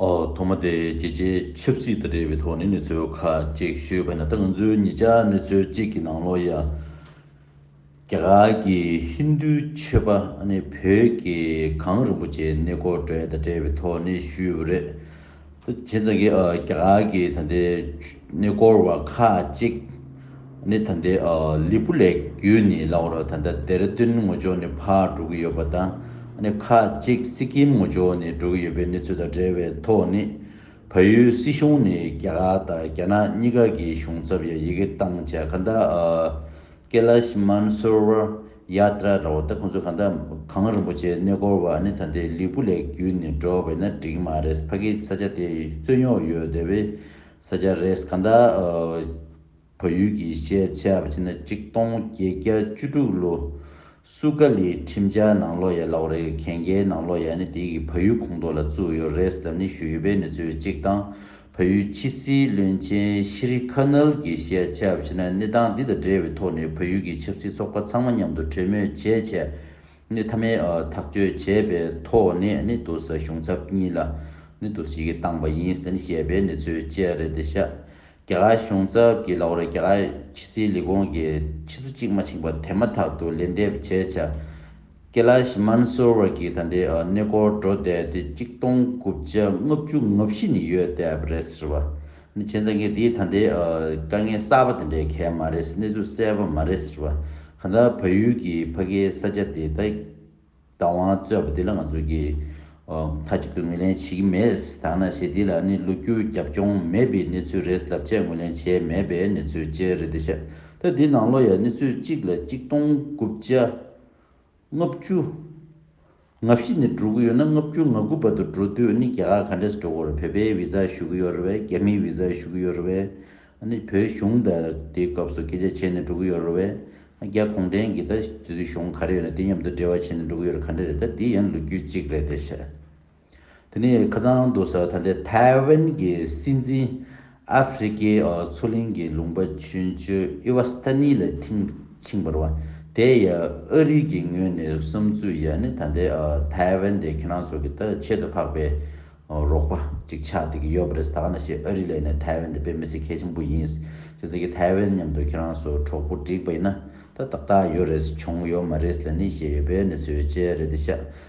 ཐོག་མ་དེ་རྒྱལ་སྤྱིའི་ཆབ་སྲིད་དང་འབྲེལ་བའི་ཐོག་ནས་གནས་ཚུལ་ཁག་ཅིག་ཤོད་པ་ཡིན་ལ་ད་ང་ཚོའི་ཉེ་ཆར་གནས་ཚུལ་གཅིག་གི་ནང་ལོ་ཡ་རྒྱ་གར་གྱི་ཧིན་རྡུའི་མཆོད་པ་ནི་བོད་ཀྱི་གངས་རིན་པོ་ཆེའི་གནས་སྐོར་བྲལ་དང་འབྲེལ་བའི་ཐོག་ནས་ཞུས་པ་རེད། བྱས་ཙང་གི་རྒྱ་གར་གྱི་ད་ལྟའི་གནས་སྐོར་བ་ཁག་ཅིག། ནི་ད་ལྟའི་ལི་པུ་ལེགས་བརྒྱུད་ནི་ལ་ཨོར་ད་ལྟ་ཏེ་ར་ཏུན་ངོ་ཅོག་ནི་ཕར་འགྲོ་གི་ཡོད་པ་དང་ཁ་ཅིག་སི་ཀིམ་ངོ་ཅོག་ནི་འགྲོ་གི་ཡོད་པའི་གནས་ཚུལ་དང་འབྲེལ་བའི་ཐོག་ནི་བལ་ཡུལ་སྲིད་གཞུང་ནི་རྒྱ་གར་དང་རྒྱ་ནག་གཉིས་ཀ་གི་གཞུང་ཚབ་ཡང་ཡི་གེ་བཏང་བྱས་ག་འདྲ་ཀེ་ལཱ་ཤི་མཱན་སོར་བར་ཡཱ་ཏྲ་ར་བ་ད་ཁོང་ཚོ་ག་འདྲ་གངས་རིན་པོ་ཆེའི་གནས་སྐོར་བ་ནི་ད་ལྟའི་ལི་པུ་ལེགས་བརྒྱུད་ནི་འགྲོ་བས་ན་འགྲིག་མ་རེད་ཕ་གིའི་ས་ཆ་དེ་རྩོད་རྙོག་ཡོད་དེ་བས་ས་ཆ་རེས་ག་འདྲ། བལ་ཡུལ་གྱི་ཤེས་བྱ་བ་ཕྱི་ན་གཅིག་སྟོང་བརྒྱད་བརྒྱ་བཅུ་དྲུག་ལོ། སུ་ཀ་ལི་ཁྲིམས་འཆར་ནང་ལོ་ཡ་ལག་རེ་གན་གའི་ནང་ལོ་ཡ་ནི་དེ་གི་བལ་ཡུལ་ཁོངས་གཏོགས་ལ་བཙུགས་ཡོད་རེས་དམ་ནི་ཞུ་ཡོད་པའི་མི་ཚོའི་གཅིག་དང་བལ་ཡུལ་ཕྱི་སྲིད་བློན་ཆེན་ཤི་རི་ཁ་ནལ་གྱི་ཤེས་བྱ་བ་ཕྱི་ན་གནས་སྟངས་འདི་དང་འབྲེལ་བའི་ཐོག་ནས་བལ་ཡུལ་གྱི་ཆབ་སྲིད་ཚོགས་པ་ཚང་མ་མཉམ་དུ་གྲོས་མོལ་བྱས་བྱས། ནི་མཐའ་མའི་ཐག་གཅོད་བྱས་པའི་ཐོག་ནས་ནི་དུ་ས་གཞུང་ཚབ་གཉིས་ལ་ནི་དུ་ཞིག་གིས་བཏང་བ་ཡིན་ཟེར་ནས་བཤད་པའི་གནས་ཚུལ་བཅས་རེད་འདི་ཤག་རྒྱ་གར་གཞུང་ཚབ་ཀྱི་ལག་རོ་རྒྱ་གར་ཕྱི་སྲིད་ལས་ཁུངས་ཀྱི་ཕྱི་ཚུ་གཅིག་མ་ཕྱིན་པར་དེ་མ་ཐག་ཏུ་ལན་འདེབས་བྱས་བྱ་ཀེ་ལ་ཤི་མན་སོར་བར་གྱི་ད་ལྟའི་གནས་སྐོར་འགྲོ་བསྡད་དེ་གཅིག་སྟོང་དགུ་བརྒྱ་ལྔ་བཅུ་ལྔ་བཞི་ནི་ཡོད་བསྡད་པ་རེད་ཟེར་བ་ནི་ཁྱེད་ཚང་གི་དེའི་ད་ལྟའི་དཀའ་ངལ་གསར་པ་དེ་འདྲའི་གལ་མ་རེད་གནས་ཚུལ་གསལ་པོ་མ་རེད་ཟེར་བ་ག་འདྲ་བལ་ཡུལ་གྱི་ཕ་གིའི་ས་ཆ་དེ་ད་བདག་དབང་རྩོད་པ་འདི་ལ་ང་ཚོ་གིས་མཐའ་གཅིག་ཏུ་ངོས་ལེན་བྱེད་ཀྱི་མེད་དང་ན་ཞེ་འདི་ལ་ནི་ལོ་རྒྱུས་རྒྱབ་ལྗོངས་མེད་པའི་གནས་ཚུལ་རེད་ལབ་ཆེད་ངོས་ལེན་བྱས་མེད་པའི་གནས་ཚུལ་བཅས་རེད་འདི་ཤ་ད་འདི་ནང་ལོ་ཡ་གནས་ཚུལ་གཅིག་ལ་གཅིག་སྟོང་དགུ་བརྒྱ་ལྔ་བཅུ། ལྔ་བཞི་ནས་འགྲོ་གི་ཡོད་ན་ལྔ་བཅུ་ང་དགུ་བར་དུ་འགྲོ་དུས་ནི་རྒྱ་གར་ག་འདྲས་སུ་འགྲོ་གི་རེད་བོད་པའི་བིཟ་ཞུ་གི་ཡོད་རེད་བས་རྒྱ་མིའི་བིཟ་ཞུ་གི་ཡོད་རེད་བས་ཨ་ནི་བོད་གཞུང་ད་དེའི་སྐབས་སུ་སྐད་ཆ་བྱས་ནས་འགྲོ་གི་ཡོད་རེད་བས་ཨ་རྒྱ་གུང་ཁྲན་གྱིས་ད་དེ་དུས་གཞུང་ག་རེ་ཡོད་ན་དེ་མཉམ་དུ་འབྲེལ་བ་བྱས་ནས་འགྲོ་གི་ཡོད་རེད་ག་འདྲས་རེད་ད་དེ་ཡང་ལོ་རྒྱུས་གཅིག་རེད་བསྡད་བྱས། དེ་ནས་ཁ་སང་དུ་ས་ཐ་དེ་ཐའེ་ཝན་གྱི་སྲིད་འཛིན་ཨ་ཧྥེ་རི་ཀའི་མཚོ་གླིང་གི་ལུང་པ་བྱོན་བཅོས་ཨི་ཝཱ་སི་ཐ་ནི་ལ་ཐིང་ཕྱིན་པར་བ་དེ་ཡ་ཨ་རིག་གི་ངོས་ནས་བསམ་ཚུལ་ཡ་ནི་ད་ལྟའི་ཐའེ་ཝན་དེ་ཁྱེད་རང་ཚོ་གི་ད་ཆེད་དུ་འཕགས་པའི་རོགས་པ་ཅིག་ཆགས་ཏེ་གི་ཡོད་པ་རེད་ད་ག་ན་ཞིག་ཨ་རི་ལས་ནས་ཐའེ་ཝན་དེ་དཔེ་མི་སྲིད་མཁས་ཆེན་པོ་ཡིན་ཅེས་ཟེར་གི་ཐའེ་ཝན་མཉམ་དུ་ཁྱེད་རང་ཚོ་གྲོགས་པོ་བསྒྲིགས་པ་ཡིན་ན་ད་ཏག་ཏག་ཡོད་རེད་བྱུང་ཡོད་མ་རེད་ལ་ནི་ཞེས་ཡོད་པའི་ནི་བཟོད་བཅལ་རེད་དེ་ཤ་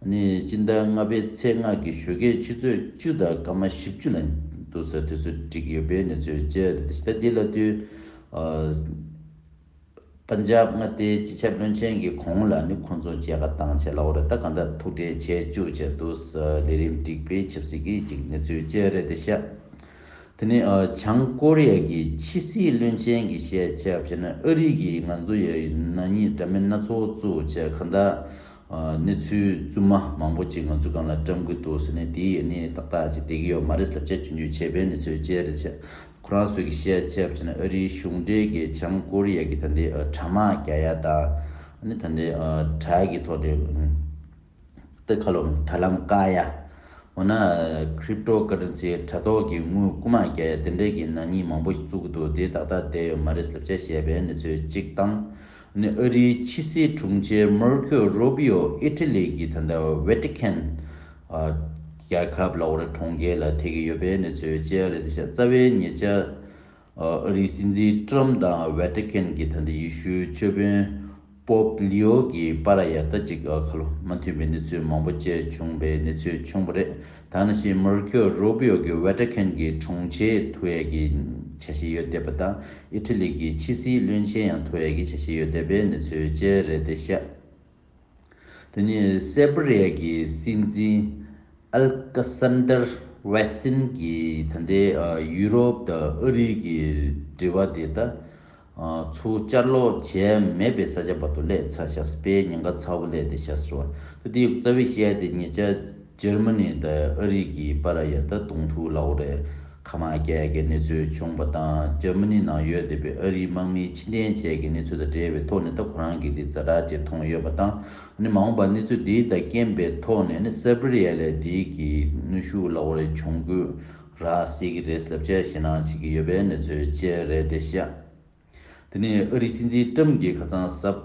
ནི་སྤྱི་ཟླ་ལྔ་པའི་ཚེས་ལྔ་གི་བཞུགས་སྒར་ཕྱི་ཚོད་བཅུ་དང་སྐར་མ་བཞི་བཅུ་ལ་འདུག་ས་དེ་ཚོ་བསྒྲིགས་ཡོད་པའི་གནས་ཚུལ་བཅས་ད་ལྟའི་ལ་དུས། Punjab། མངའ་སྡེའི་སྤྱི་ཁྱབ་བློན་ཆེན་གྱི་གོང་ལ་ནི་ཁོང་ཚོ་མཇལ་ཁ་བཏང་ཆེད་ལ་འོ་རེ་ད་ག་འདྲ་ཐུགས་འབྲེལ་བྱས་བཅུག་ཅེས་འདུག་ས་ལས་རིམ་བསྒྲིགས་པའི་ཆབ་སྲིད་ཀྱི་གཅིག་གནས་ཚུལ་བཅས་རེད་དེ་ཤ་དེ་ནི་བྱང་ཀོ་རི་ཡ་གྱི་ཕྱི་སྲིད་བློན་ཆེན་གྱི་བཤད་ཆ་བྱས་ན་ཨ་རིག་གིས་ང་ཚོ་ཡ་ཡི་ན་ཉིད་འདྲ་མིན་སྣ་ཚོགས་བཙུགས་ཆེད་ག་འདྲ་གནས་ཚུལ་རྫུན་མ་མང་པོ་གཅིག་ང་ཚོའི་སྒང་ལ་བཀྲམ་གི་འདུག་ཟེར་ནས་དེའི་ཡིན་ནི་ཏག་ཏག་ཅིག་བསྡད་ཀྱི་ཡོད་མ་རེད་ཟེར་བྱས་བྱུང་རྒྱུའི་ཆད་པའི་གནས་ཚུལ་བཅས་རེད་བྱས། ཁོ་རང་ཚོས་ཀྱི་བཤད་ཆས་བྱས་ན་ཨ་རིའི་གཞུང་འབྲེལ་གྱི་བྱང་ཀོ་རི་ཡ་གྱི་ད་འདི་དྲ་དམག་རྒྱ་ཡ་དང། ད་འདི་དྲ་གི་ཐོག་འདི་སྟི་ཁ་ལོམ་དྲ་ལམ་ཀ་ཡ། འོ་ན Crypto Currency དྲ་ཐོག་གི་དངུལ་རྐུ་དམག་རྒྱ་ཡ་དེ་འདྲས་ཀྱི་ནག་ཉེས་མང་པོ་བཙུགས་གི་འདུག་དེ་ཏག་ཏག་བསྡད་ཡོད་མ་རེད་ཟེར་བྱས་བཤད་པའི་གནས་ཚུལ་གཅིག་དང། ནི་ཨ་རིའི་ཕྱི་སྲིད་དྲུང་ཆེ་མར་ཁོ་རུ་བྷི་ཡོ་ཨི་ཏི་ལི་གི་ད་ལྟ་བྷེ་ཏི་ཁན་རྒྱལ་ཁབ་ལ་ཨོ་རེད་གྲོང་ཁྱེར་ལ་ཐེ་གི་ཡོད་པའི་གནས་ཚུལ་བཅས་རེད་ད་ཆ་རྩ་བའི་ཉེ་ཆར་ཨ་རིའི་སྲིད་འཛིན་ཏྲམ་དང་བྷེ་ཏི་ཁན་གྱི་ད་ལྟ་ཡི་ཤུའི་ཆོས་དཔོན་པོབ་ལི་ཡོ་གི་པ་ར་ཡ་ལྟ་ཅིག་ཁ་ལོ་མ་མཐུན་པའི་གནས་ཚུལ་མང་པོ་བཅས་བྱུང་བའི་གནས་ཚུལ་བྱུང་བ་རེད། ད་ནི་ཞེས་མུར་ཁྱོ་རུ་བྷི་ཡོ་གི་ཝེ་ཏྲེ་ཁེན་གྱི་དྲུང་ཆེ་ཐུ་ཡེ་གི་བྱ་བྱེད་ཡོད་བསྡད་པ་དང་ཨི་ཐི་ལི་གི་ཕྱི་སྲིད་བློན་ཆེན་ཡང་ཐུ་ཡེ་གི་བྱ་བྱེད་ཡོད་བསྡད་པའི་གནས་ཚུལ་བཅས་རེད་དེ་ཤ་དེ་ནི་སེར་པི་རི་ཡ་གི་སྲིད་འཛིན་ཨལ་ཀི་སན་དར་བྷེ་སིན་གྱིས་ད་ལྟའི་ཡུ་རོབ་དང་ཨ་རི་གི་འབྲེལ་བ་དེ་ད་ཚུར་བཅར་ལོག་བྱས་མེད་པའི་ས་ཆ་བར་དུ་ལས་ཚ་ཤ་སྤེལ་ཉེན་ཁ་ཚ་བོ་ལས་དེ་ཤ་ཟེར་བ་དེ་དེའི་རྩ་བའི་ཤའི་དེ་ཉེ་ཆ་འཇར་མ་ནི་དང་ཨ་རིག་གིས་པ་ར་ཡ་ད་དུང་ཐུའུ་ལའོ་རའི་ཁ་མ་ཀལ་གྱི་གནས་ཚུལ་བྱུང་བ་དང་འཇར་མ་ནི་ནང་ཡོད་བསྡད་པའི་ཨ་རིའི་དམག་མིའི་ཕྱི་འཐེན་བྱས་ཀྱི་གནས་ཚུལ་དང་འབྲེལ་བའི་ཐོག་ནས་ད་ཁོ་རང་གིས་དེ་རྫ་དྲག་ཅེས་མཐོང་ཡོད་པ་དང་ནི་མ་འོངས་པར་གནས་ཚུལ་དེའི་དང་རྐྱེན་པའི་ཐོག་ནས་ནི་སེར་པེ་རི་ཡ་ལས་དེའི་གི་ནུས་ཤུགས་ལ་བོ་རེ་འབྱུང་དགོས་ར་བཟི་གི་རེད་ལབ་ཁྱེར་ཞེད་སྣང་བྱེད་ཀྱི་ཡོད་པའི་གནས་ཚུལ་བཅས་རེད་དེ་བཤད། དེ་ནས་ཨ་རིའི་སྲིད་འཛིན་ཀྲམ་གྱིས་ཁ་ཚང་ཟབ།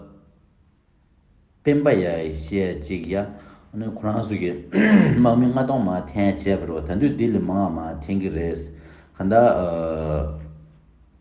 སྤེན་པ་ཡ་ཡི་བཤད་ཅིག་ཡ། ཁོ་རང་ཚོ་གི་དམག་མི་ལྔ་སྟོང་མ་འཐེན་བྱས་པ་རེད་བ་ད་འདུས་འདི་ལས་མང་བ་མ་འཐེན་གི་རེད། གང་ལྟར།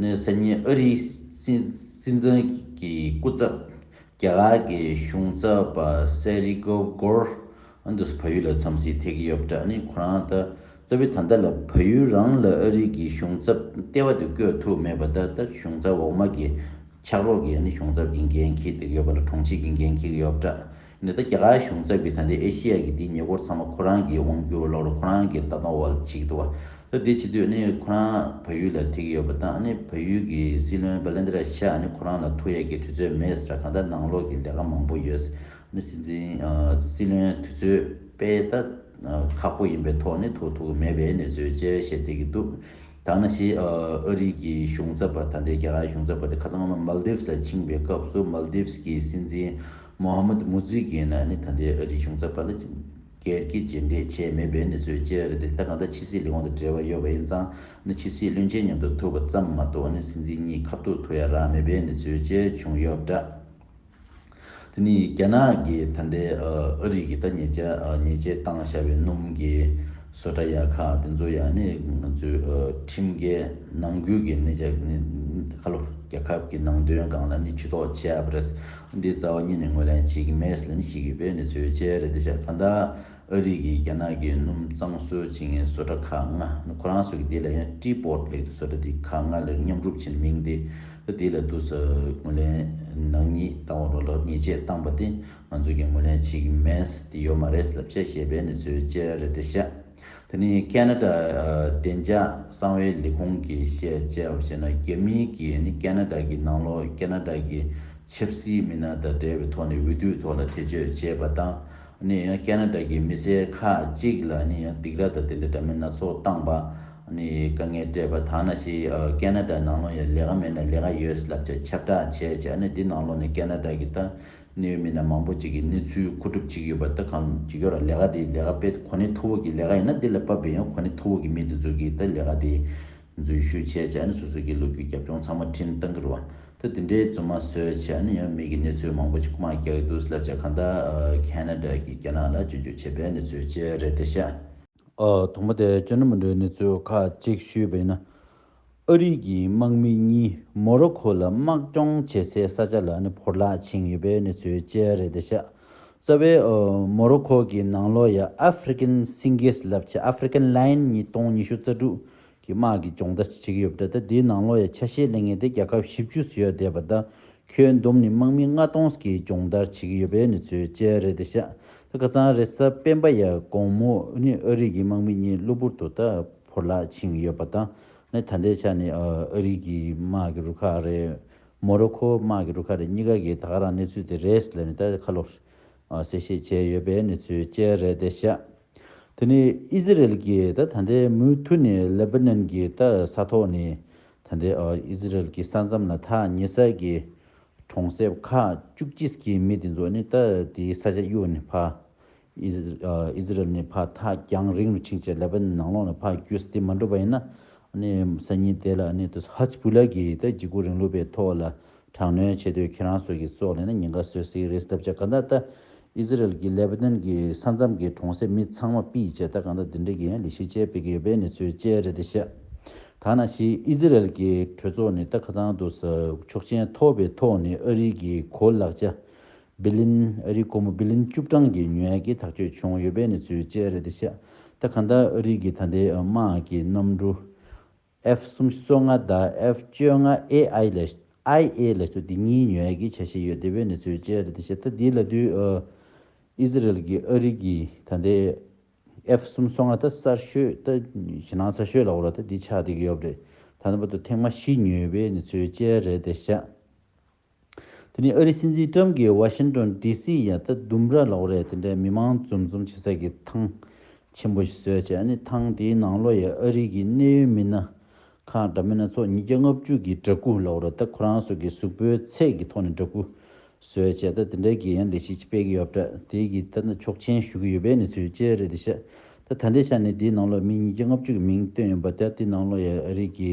ནི་སི་ཉི་ཨུ་རིའི་སྲིད་འཛིན་གྱི་སྐུ་ཚབ་རྒྱ་གར་གྱི་གཞུང་ཚབ་པ་སེ་རི་གོ་གོར་ཨན་དུ་ཕ་ཡུལ་ལ་འཚམས་གཟིགས་ཐེག་གི་ཡོད་པ་འདྲ་ནི་ཁོ་རང་ལྟ་ཙི་བས་ད་ལྟ་ལ་ཕ་ཡུལ་རང་ལ་ཨུ་རི་གྱི་གཞུང་ཚབ་ལྟེ་བ་དུ་བསྐོས་ཐུབ་མེད་པ་ད་ལྟ་གཞུང་ཚབ་འོག་མ་གི་ཕྱག་རོགས་ཀྱི་གཞུང་ཚབ་ཀྱི་འགན་འཁྱེར་ཐེག་ཡོད་པ་ལ་དྲུང་ཆེ་གི་འགན་འཁྱེར་གི་ཡོད་པ་འདྲ། ནས་ད་རྒྱ་གར་གཞུང་ཚབ་ཀྱི་ད་འདི་ཨེ་ཤེ་ཡ་གི་འདི་ཉེ་འཁོར་ཚང་མ་ཁོ་རང་གིས་དབང་བསྒྱུར་ལོག་ལ་ཁོ་རང་གིས་ད་གཏོང་བ་ལ་བྱེད་ཀྱི་འདུག་བ། ད་འདི་བྱེད་དུས་ནི་ཁོ་རང་བལ་ཡུལ་ལ་དེད་ཀྱི་ཡོད་པ་དང་ཨ་ནི་བལ་ཡུལ་གྱི་སྲིད་བློན་པ་ལན་དེ་ར་ཤ་ཨ་ནི་ཁོ་རང་ལ་ཐུག་ཡ་གྱི་དུས་ཚོད་མེད་ཟེར་ད་གང་ལྟར་ནང་ལོག་གི་ལས་ཀ་མང་པོ་ཡོད། ཨ་ནི་སྲིད་འཛིན། སྲིད་བློན་དེ་ཚོས་དཔེ་ད་ཁག་པོ་ཡིན་པའི་ཐོག་ནས་ཐུག་ཐུག་གི་མེད་པའི་ནས་བཟོས་བཅས་བཤད་བསྡད་ཀྱི་འདུག། ཐ་ན་ཕྱིའི་ཨ་རིའི་གི་གཞུང་ཚབ་པ་དང་འབྲེལ་རྒྱ་གར་གཞུང་ཚབ་པ་དེ་ཁ་སང་སྔོན་མ Maldives ལ་ཕྱིན་པའི་སྐབས་སུ Maldives གི་སྲིད་འཛིན Mohammad Mujigeena ནི་ད་ལྟའི་ཨ་རིའི་གཞུང་ཚབ་པ་ལ་སྒེར་གྱི་རྗེས་འདེད་བྱས་མེད་པའི་གནས་ཚུལ་བཅས་རེད་དེ་ད་གང་ལྟར་ཕྱི་སྲིད་ལས་ཁུངས་དང་འབྲེལ་བ་ཡོད་པ་ཡིན་ཙང་ནི་ཕྱི་སྲིད་བློན་ཆེན་མཉམ་དུ་ཐུག་པ་ཙམ་མ་གཏོགས་ནི་སྲིད་འཛིན་གཉིས་ཁ་ཐུག་ཐུག་ཡ་རང་མེད་པའི་གནས་ཚུལ་བཅས་བྱུང་ཡོད་པ་འདྲ། དེ་ནི་རྒྱ་ནག་གི་ད་ལྟའི་ཨ་རི་གི་ད་ཉེས་ཆད་བཏང་བཞག་པའི་སྣུམ་གྱི་བཟོ་གྲྭ་ཡ་ཁག་དེ་ཚོ་ཡང་ནི་ང་ཚོའི་ཁྲིམས་འགལ་ནང་ཁུལ་གྱི་ནད་ཆགས་ནི་ཁ་ལོ་རྒྱལ་ཁབ་ཀྱི་ནང་དོན་སྒང་ལ་ནི་ཇུས་གཏོགས་བྱས་པ་རེད། འདི་རྩ་བ་ཉིད་ནས་ངོས་ལེན་བྱེད་ཀྱི་མེད་ལ་ནི་བྱེད་ཀྱི་པའི་ནི་ཚོད་ཆས་རེད་འདི་ཤ་ཁ་འདའ། ཨ་རིག་གིས་རྒྱ་ནག་གི་སྣུམ་གཙང་བཟོའི་བྱེད་ངན་བཟོ་གྲྭ་ཁག་ལྔ་ཁོ་རང་བཟོས་ཀྱི་དེ་ལ་ཡང་ཀྲི་པོར་ལེགས་འདུག་བཟོ་གྲྭ་དེ་ཁག་ལྔ་ལེར་མཉམ་རུབ་བྱེད་མིང་དེ་དེ་ལ་འདུག་ཟེར་ངོས་ལེན་ནག་ཉེས་བཏང་བ་རུ་ལག་ཉེས་ཆད་བཏང་པ་དེ་ང་ཚོས་ཀྱང་ངོས་ལེན་བྱེད་ཀྱི་མེད་ཟེར་གྱི་ཡོད་མ་རེད་ལབ་བྱས་ཞེས་པའི་ནི་ཚོའི་བཅད་རེ་དེ་བཤད་དེ་ནི་ཀན་ན་ཀྲ་བདེ་འཇགས་གསང་བའི་ལས་ཁུངས་ཀྱི་བཤད་བྱས་བ་བྱས་ན་རྒྱ་མི་གིས་ནི་ཀན་ན་ཀྲ་གི་ནང་ལོག་ཀན་ན་ཀྲ་གི་ཆབ་སྲིད་མི་སྣ་དང་འབྲེལ་བའི་ཐོག་ནས་འུད་བསྟོད་ཐོག་ལ་ཐེ་བྱུས་བྱས་པ་དང། ནས་ཡང་ཀ་ན་ཀྲ་གི་མི་སེར་ཁག་ཅིག་ལ་ནས་ཡང་སྡིགས་ར་དང་དེ་འདྲའི་འདྲ་མིན་སྣ་ཚོགས་བཏང་པ། ནས་དཀའ་ངལ་སྤྲད་པ་དག་ན་ཞིག་ཀ་ན་ཀྲ་ནང་ལོགས་ཡང་ལས་ཀ་མེད་ན་ལས་ཀ་ཡོད་ལབ་ཅིག་ཁྱབ་བསྒྲགས་བྱས་བྱས་ནས་འདི་ནང་ལོགས་ནས་ཀ་ན་ཀྲ་གི་ལྟ་ནི་ཡོད་མིན་ན་མང་པོ་ཅིག་གི་ནི་ཚུལ་མཁོ་སྒྲུབ་ཅིག་ཡོད་པ་ལྟ་གམ་ཅིག་ཡོད་ར་ལས་ཀ་དེ་ལས་ཀ་དཔེ་གོ་ནི་མཐོ་བོ་གི་ལས་ཀ་ཡིན་ན་འདི་ལ་པ་བེ་ཡང་གོ་ནི་མཐོ་བོ་གི་མི་དེ་ཚོ་གི་ལྟ་ལས་ཀ་དེ། འཛུལ་ཞུགས་བྱས་ཚེ་ཨ་ནི་སོ་སོ་སྐྱིད་ལོ་རྒྱུས་རྒྱབ་ལྗོངས་ཚང་མ་འཕྲིན་བཏང་གི་རུང་ད་དེ་འདྲའི་རྫུན་མ་བཟོས་ཚེ་ཨ་ནི་ཡང་མིག་གི་གནས་ཚུལ་མང་པོ་ཅིག་མ་རྒྱག་གི་འདུག་བསླབ་བྱ་གང་དག Canada གྱི་རྒྱ་ནག་ལ་བཅོས་བསྒྱུར་བྱས་པའི་གནས་ཚུལ་བཅས་རེད་དེ་ཤ། དང་པོ་དེ་བཅོས་ན་མི་འགྲོའི་གནས་ཚུལ་ཁག་ཅིག་ཞུས་པ་ཡིན་ན། ཨ་རིག་གི་དམག་མི་གཉིས་མོ་རོ་ཁོ་ལ་དམག་སྦྱོང་བྱེད་སའི་ས་ཆ་ལ་ཨ་ནི་ཕོར་ལག་འཆིང་ཡོད་པའི་གནས་ཚུལ་བཅས་རེད་དེ་ཤ། རྩ་བའི་མོ་རོ་ཁོ་གི་ནང་ལོགས་ཡ་ཨ་ཧྥེ་རི་ཀན་སིང་གེ་སི་ལབ་ཆེ་ཨ་ཧྥེ་རི་ཀན་ལཱིན་ཉིས་སྟོང་ཉི་ཤུ་རྩ་དྲུག་གི་དམག་གིས་སྦྱོང་བརྡར་བྱེད་ཀྱི་ཡོད་པ་འདྲ་སྟེ་དེའི་ནང་ལོགས་ཡ་ཆ་ཤས་ལས་ངེས་ཏེ་རྒྱལ་ཁབ་བཞི་བཅུ་སུ་ཡར་བསྡད་པ་དང་ཁྱོན་བསྡོམས་ནི་དམག་མི་ལྔ་སྟོང་གིས་སྦྱོང་བརྡར་བྱེད་ཀྱི་ཡོད་པའི་གནས་ཚུལ་བཅས་རེད་དེ་ཤ་ཏི་ཁ་ཚང་རེ་ས་སྤེན་པ་ཡ་གོང་མོ་ནི་ཨ་རིག་གི་དམག་མི་གཉིས་གློ་བུར་དུ་ད་བོར་ལག་འཆིང་ཡོད་པ་དང་ནི་ད་ལྟའི་ཆ་ནས་ཨ་རིག་གི་དམག་གི་རུ་ཁག་རེ་མོ་རོ་ཁོ་དམག་གི་རུ་ཁག་རེ་གཉིས་ཀ་གིས་ད་ག་རང་གནས་ཚུལ་དེ་རེད་ཟེར་ནས་ད་ག་ལོག་གསལ་བཤད་བྱས་ཡོད་པའི་གནས་ཚུལ་བཅས་རེད་བདེ་ཤ། དེ་ནི་ཨི་ཟི་རེལ་གྱིས་ད་ད་ལྟའི་མུ་མཐུད་ནས་ལེ་པི་ནན་གྱི་ད་ས་ཐོག་ནས་ད་ལྟའི་ཨི་ཟི་རེལ་གྱི་ས་མཚམས་ལ་ཐག་ཉེ་སར་གྱི་གྲོང་གསེབ་ཁག་བཅུ་གཅིག་གི་མི་དེ་ཚོ་ནི་ད་དེའི་ས་ཆ་གཡུག་ནས་ཕ་ཨིས་ར་ཨེལ་ནས་ཕར་ཐག་རྒྱང་རིང་རུ་ཕྱིན་ཅིང་ལེ་བཱན་ནང་ལོགས་ནས་ཕར་བསྐྱོད་ས་དེ་མ་འགྲུབ་པ་ཡིན་ན། སང་ཉིན་དེ་ལ་ཧཱས་བྷུ་ལཱ་གིས་ད་གཟིགས་སྐུ་རིང་ལུགས་པའི་ཐོག་ལ་དྲག་གནོན་བྱེད་དུས་ཁྱེད་རང་ཚོ་གིས་བཙོག་ལེན་ན་ཉེན་ཁ་བཟོས་སྲིད་རེད་ཟེར་ཐབས་བྱ་ག་འདྲ་ད་ཨིས་ར་ཨེལ་གྱིས་ལེ་བཱ་ནོན་གྱི་ས་མཚམས་ཀྱི་གྲོང་གསེབ་མི་ཚང་མ་སྤིས་བྱས་ད་གང་འདྲ་དེ་འདྲ་གི་ལི་ཤི་ཅལ་སྤེལ་གྱི་ཡོད་པའི་གནས་ཚུལ་བཅས་རེད་དེ་ཤ་ཐག་ན་ཤི་ཨིས་ར་ཨེལ་གྱི་གྲོས་ཚོགས་ནི་ད་ཁ་ཚང་དུ་ཟ་ཆོག་ཅན་ཐོབ་པའི་ཐོག་ནས་ཨ་རིའི་གི་གོ་ལག་བྱ་བི་ལིན། ཨ་རིའི་ཀོ་མོ་བི་ལིན་བཅུ་གྲངས་ཀྱི་ཉུལ་ཡ་གིས་ཐག་གཅོད་བྱུང་ཡོད་པའི་གནས་ཚུལ་བཅས་རེད་དེ་ཤ་ད་ག་འདའ་ཨ་རིའི་གི་ད་ལྟའི་དམག་གི་གནམ་གྲུ F གསུམ་བཅོ་ལྔ་དང F བཅོ་ལྔ AI ལས IA ལས་སོ་དེ་གཉིས་ཉུལ་ཡ་གིས་ཆ་ཤས་ཡོད་དེ་བའི་གནས་ཚུལ་བཅས་རེད་དེ་ཤ་ད་དེའི་ལ་དུས་ཨི་ཟི་རལ་གི་ཨ་རིའི་གི་ད་ལྟའི F གསུམ་བཅོ་ལྔ་ད་སར་ཤོད་ད་ཞི་ནང་ཚ་ཤོད་ལ་བོ་ལ་ད་དེ་ཆགས་དེ་གི་ཡོད་རེད་ད་ད་བ་དུ་ཐེངས་མ་བཞི་ཉུལ་བའི་གནས་ཚུལ་བཅས་རེད་དེ་ཤ། དེ་ནི་ཨ་རིའི་སྲིད་འཛིན་ཀྲམ་གྱིས་ཝ་ཤིན་ཏོན་ལྡི་སི་ཡ་ད་ལྡུམ་ར་ལོག་རེད་དེ་འདྲའི་མི་མང་འཛོམས་འཛོམས་བྱེད་ས་ཀྱི་ཐང་ཆེན་པོ་ཞིག་བཟོས་བྱས་ཨ་ནི་ཐང་དེའི་ནང་ལོ་ཡའི་ཨ་རི་གྱི་གནད་ཡོད་མི་སྣ་ཁག་འདྲ་མི་སྣ་ཚོགས་ཉིས་བརྒྱ་ལྔ་བཅུ་གྱིས་འདྲ་སྐུ་ལོག་རེད་ད་ཁོ་རང་སོ་ཀྱི་གཟུགས་པོའི་ཚད་ཀྱི་ཐོག་ནས་འདྲ་སྐུ་བཟོས་བྱས་ད་དེ་འདྲའི་དགེ་ཡན་ལས་གཞི་ཅིག་སྤེལ་གྱི་ཡོད་པ་འདྲ་དེའི་གི་ད་ཆོག་མཆན་ཞུ་གི་ཡོད་པའི་གནས་ཚུལ་བཅས་རེད་དེ་ཤད་ད་ད་ལྟའི་ཆ་ནས་དེའི་ནང་ལོ་མི་ཉིས་བརྒྱ་ལྔ་བཅུ་གྱི་མིང་བཏོན་ཡོད་པ་དེ་དེའི་ནང་ལོ་ཡའི་ཨ་རི་གྱི་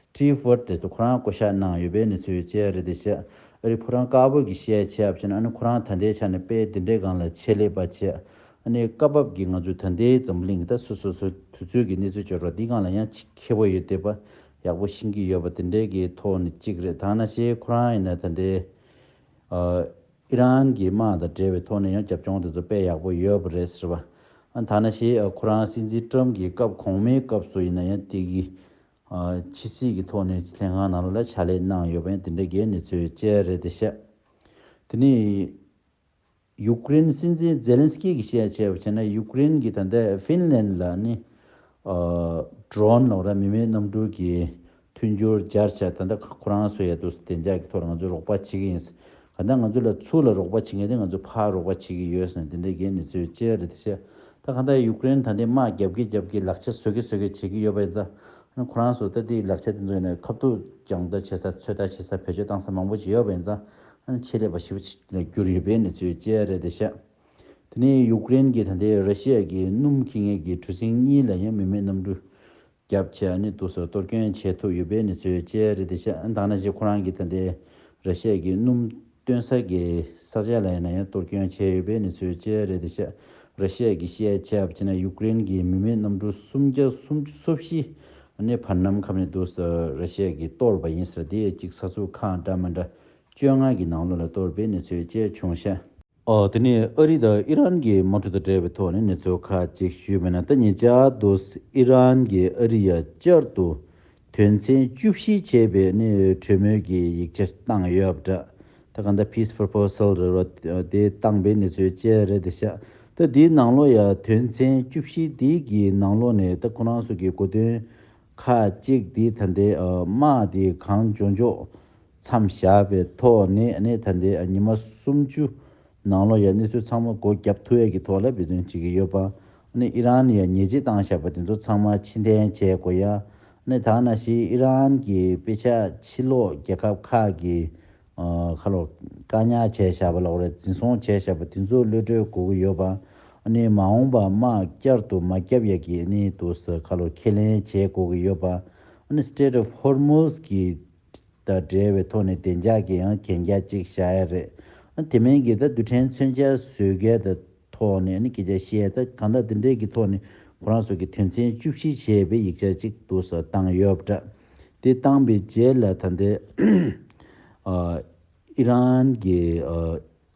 སྤྲུལ་སྐུར་དེ་ཚོ་ཁོ་རང་བསྐོ་བཞག་གནང་ཡོད་པའི་གནས་ཚུལ་བཅས་རེད་དེ་ཆེད་རིགས་ཕོ་བྲང་དཀར་པོ་གི་བཤད་ཆས་བྱས་ན་ཨ་ནི་ཁོ་རང་ད་ལྟའི་ཆ་ནས་དཔེ་དེ་འདྲའི་སྒང་ལ་ཆེད་ལས་པ་བྱས་ཨ་ནི་སྐབས་བབ་ཀྱི་ང་ཚོའི་ད་ལྟའི་འཛམ་བུ་གླིང་གི་ད་སོ་སོ་སོའི་དུས་ཚོད་ཀྱི་གནས་ཚུལ་བཅོས་སྒྲོག་འདི་སྒང་ལ་ཡང་ཆེད་མཁས་པོ་ཡོད་དེ་པ་ཡག་པོ་ཤེས་ཀྱི་ཡོད་པ་དེ་འདྲའི་གི་ཐོག་ནས་གཅིག་རེད་ད་ང་ཤེས་ཁོ་རང་ཡིན་ན་ད་ལྟའི་ཨི་རན་གྱི་དམག་དང་འབྲེལ་བའི་ཐོག་ནས་ཡང་རྒྱབ་ལྗོངས་དེ་ཚོ་དཔེ་ཡག་པོ་ཡོད་པ་རེད་ཟེར་བ། ཐ་ན་ཞེས་ཁོ་རང་སྲིད་འཛིན་ཀྲམ་གྱི་སྐབས་གོང་མའི་སྐབས་སུ་ཡིན་ན་ཡང་སྟེ་གི། ཕྱི་སྲིད་ཀྱི་ཐོག་ནས་ལྷན་ཁང་ནང་ལ་ཕྱག་ལས་གནང་ཡོད་པ་ཡང་དེ་འདྲ་གའི་གནས་ཚུལ་བཅས་རེད་དེ་བཤད། དེ་ནས། ཡུག་ཀེ་རེན་སྲིད་འཛིན་ཛེ་ལན་སི་ཀི་གིས་བཤད་ཆེད་བྱས་ན་ཡུག་ཀེ་རེན་གྱིས་ད་ལྟའི་ཧྥིན་ལན་ལ་ནི། Drone ལོག་ར་མི་མེད་གནམ་གྲུ་གྱི་མཐུན་སྦྱོར་རྒྱར་བྱས་ད་ལྟ་ཁོ་རང་སོ་ཡ་དུ་སི་བདེ་འཇགས་ཀྱི་ཐོག་ང་ཚོས་རོགས་པ་བྱེད་ཀྱི་ཡིན། ག་ད་ང་ཚོ་ལ་ཚུར་ལ་རོགས་པ་བྱེད་མཁན་དེ་ང་ཚོ་ཕ་རོགས་པ་བྱེད་ཀྱི་ཡོད་ཟེར་ནས་དེ་འདྲའི་འགན་ནི་ཚོའི་ཅེ་རེད་བཤད། ད་ག་ད་ཡུཀ་རེན་ད་འདི་དམག་རྒྱབ་ཀི་རྒྱབ་ཀི་ལག་ཆ་བཟོ་ཀི་བཟོ་ཀི་བྱེད་ཀི་ཡོད་པ་ཡིན་ཙང་ང་ཁོ་རང་སོ་ད་དེའི་ལག་ཆ་དེ་ཚོ་ཡིན་ན་ཁ་བསྡུ་རྒྱང་བལྟ་བྱེད་ས་ཚོད་ལྟ་བྱེད་ས་བེད་སྤྱོད་བཏང་ས་མང་པོ་བྱེད་ཡོད་པ་ཡིན་ཙང་ང་ཆེད་ལས་པ་ཞིབ་ལ་བསྒྱུར་ཡོད་པའི་ནི་ཚོའི་ཅེ་རེད་བཤད། དེ་ནི་ཡུཀ་རེན་གྱི་ད་འདི་ར་ཤི་ཡ་ཀྱི་སྣུམ་ཁེ་ངེས་ཀྱི་གྲུ་གཟིངས་གཉིས་ལ་ཡང་མི་མེད་གནམ་གྲུ་སྐྱབས་ཆེ་ཨ་ནི་ཏུ་སོགས་གཏོར་སྐྱོན་བྱས་ཐུབ་ཡོད་པའི་ནི་ཚོའི་དཔྱད་རེ་དེ་ཤ་འདང་ན་ཞིག་ཁོ་རང་གི་ད་ལྟའི་ར་ཤས་ཀྱི་སྣུམ་སྟོན་ས་གི་ས་ཆ་ལ་ཡིན་ན་ཡང་གཏོར་སྐྱོན་བྱས་ཡོད་པའི་ནི་ཚོའི་དཔྱད་རེ་དེ་ཤ་ར་ཤས་ཀྱི་ཤའི་ཆབ་བྱས་ན་ཡུག་ཀི་རེན་གྱི་མི་མེད་གནམ་གྲུ་སུམ་བརྒྱ་སུམ་ཅུ་སོ་བཞི་ཨ་ནི་བར་ནམ་ཁབ་ནི་ཏུ་སོགས་ར་ཤས་ཀྱིས་གཏོར་བ་ཡིན་ཟེར་དེ་གཅིག་ས་ཚུགས་ཁག་འདྲ་མ་འདྲ་བཅོ་ལྔ་གི་ནང་ལོ་ལ་གཏོར་པའི་ནི་ཚོའི་དཔྱད་བྱུང་ཤ། དེ་ནི་ཨ་རི་དང་ཨི་རན་གྱི་དམག་གྲུ་དང་འབྲེལ་བའི་ཐོག་ནས་གནས་ཚུལ་ཁག་ཅིག་ཞུས་པ་ན་ད་ཉེ་ཆར་དུ་ཨི་རན་གྱིས་ཨ་རི་ཡར་བསྐྱར་དུ་དོན་ཚན་བཅུ་བཞི་བྱས་པའི་ནི་གྲོས་མོལ་གྱི་ཡིག་ཆ་བཏང་ཡོད་པ་འདྲ་ད་ག་ད peace proposal རེད་བ་དེ་བཏང་པའི་གནས་ཚུལ་བཅས་རེད་དེ་ཤ་ད་དེའི་ནང་ལོ་ཡ་དོན་ཚན་བཅུ་བཞི་དེ་གི་ནང་ལོ་ནས་ད་ཁོ་རང་སུ་གི་གོ་དོན་ཁག་ཅིག་དེ་ད་ནྡའི་དམག་དེ་གང་འཇོག་འཇོག་མཚམས་བཞག་པའི་ཐོག་ནས་གནས་ད་ལྟའི་ཉི་མ་སུམ་ཅུ་ནང་ལོ་ཡ་གནས་ཚུལ་ཚང་མ་སྒོ་བརྒྱབ་ཐུ་ཡ་གི་ཐོག་ལ་འབད་བརྩོན་བྱེད་ཀྱི་ཡོད་པ་གནས་ཨི་རན་ནས་ཡ་ཉེས་ཅི་བཏང་བཞག་པ་དེ་ཚོ་ཚང་མ་ཕྱི་འཐེན་བྱས་དགོས་ཡ་གནས་ད་ན་ཞིག་ཨི་རན་གྱི་དཔེ་ཆ་ཕྱི་ལོག་རྒྱལ་ཁབ་ཁག་གི་ཁ་ལོ་བཀའ་ཉག་བྱས་བཞག་པ་ལ་འོ་རེ་འཛིན་བཟུང་བྱས་བཞག་པ་དེ་ཚོ་གློད་གྲོལ་དགོས་ཀྱི་ཡོད་པ་གནས་མ་འོངས་པ་དམག་བསྐྱར་དུ་མ་བརྒྱབ་ཡ་གི་གནས་དུ་ས་ཁ་ལོ་ཁས་ལེན་བྱེད་དགོས་ཀྱི་ཡོད་པ་གནས Strait of Hormuz གི་དང་འབྲེལ་བའི་ཐོག་ནས་བདེ་འཇགས་ཀྱི་ཡང་གན་རྒྱ་གཅིག་བཞག་ཡ་རེད། དེ་མིན་གྱི་ད་རྡུལ་ཕྲན་མཚོན་ཆ་བཟོས་སྐད་དང་ཐོག་ནས་ནི་ཁྱེད་ཅག་ཤེས་ད་གང་དག་འདི་འདྲས་ཀྱི་ཐོག་ནས་ཁོ་རང་ཚོ་གི་དོན་ཚན་བཅུ་བཞི་ཞེས་པའི་ཡིག་ཆ་གཅིག་འདུག་ས་བཏང་ཡོད་པ་འདྲ། དེ་བཏང་པའི་རྗེས་ལ་ད་འདི་ཨི་རན་གྱི།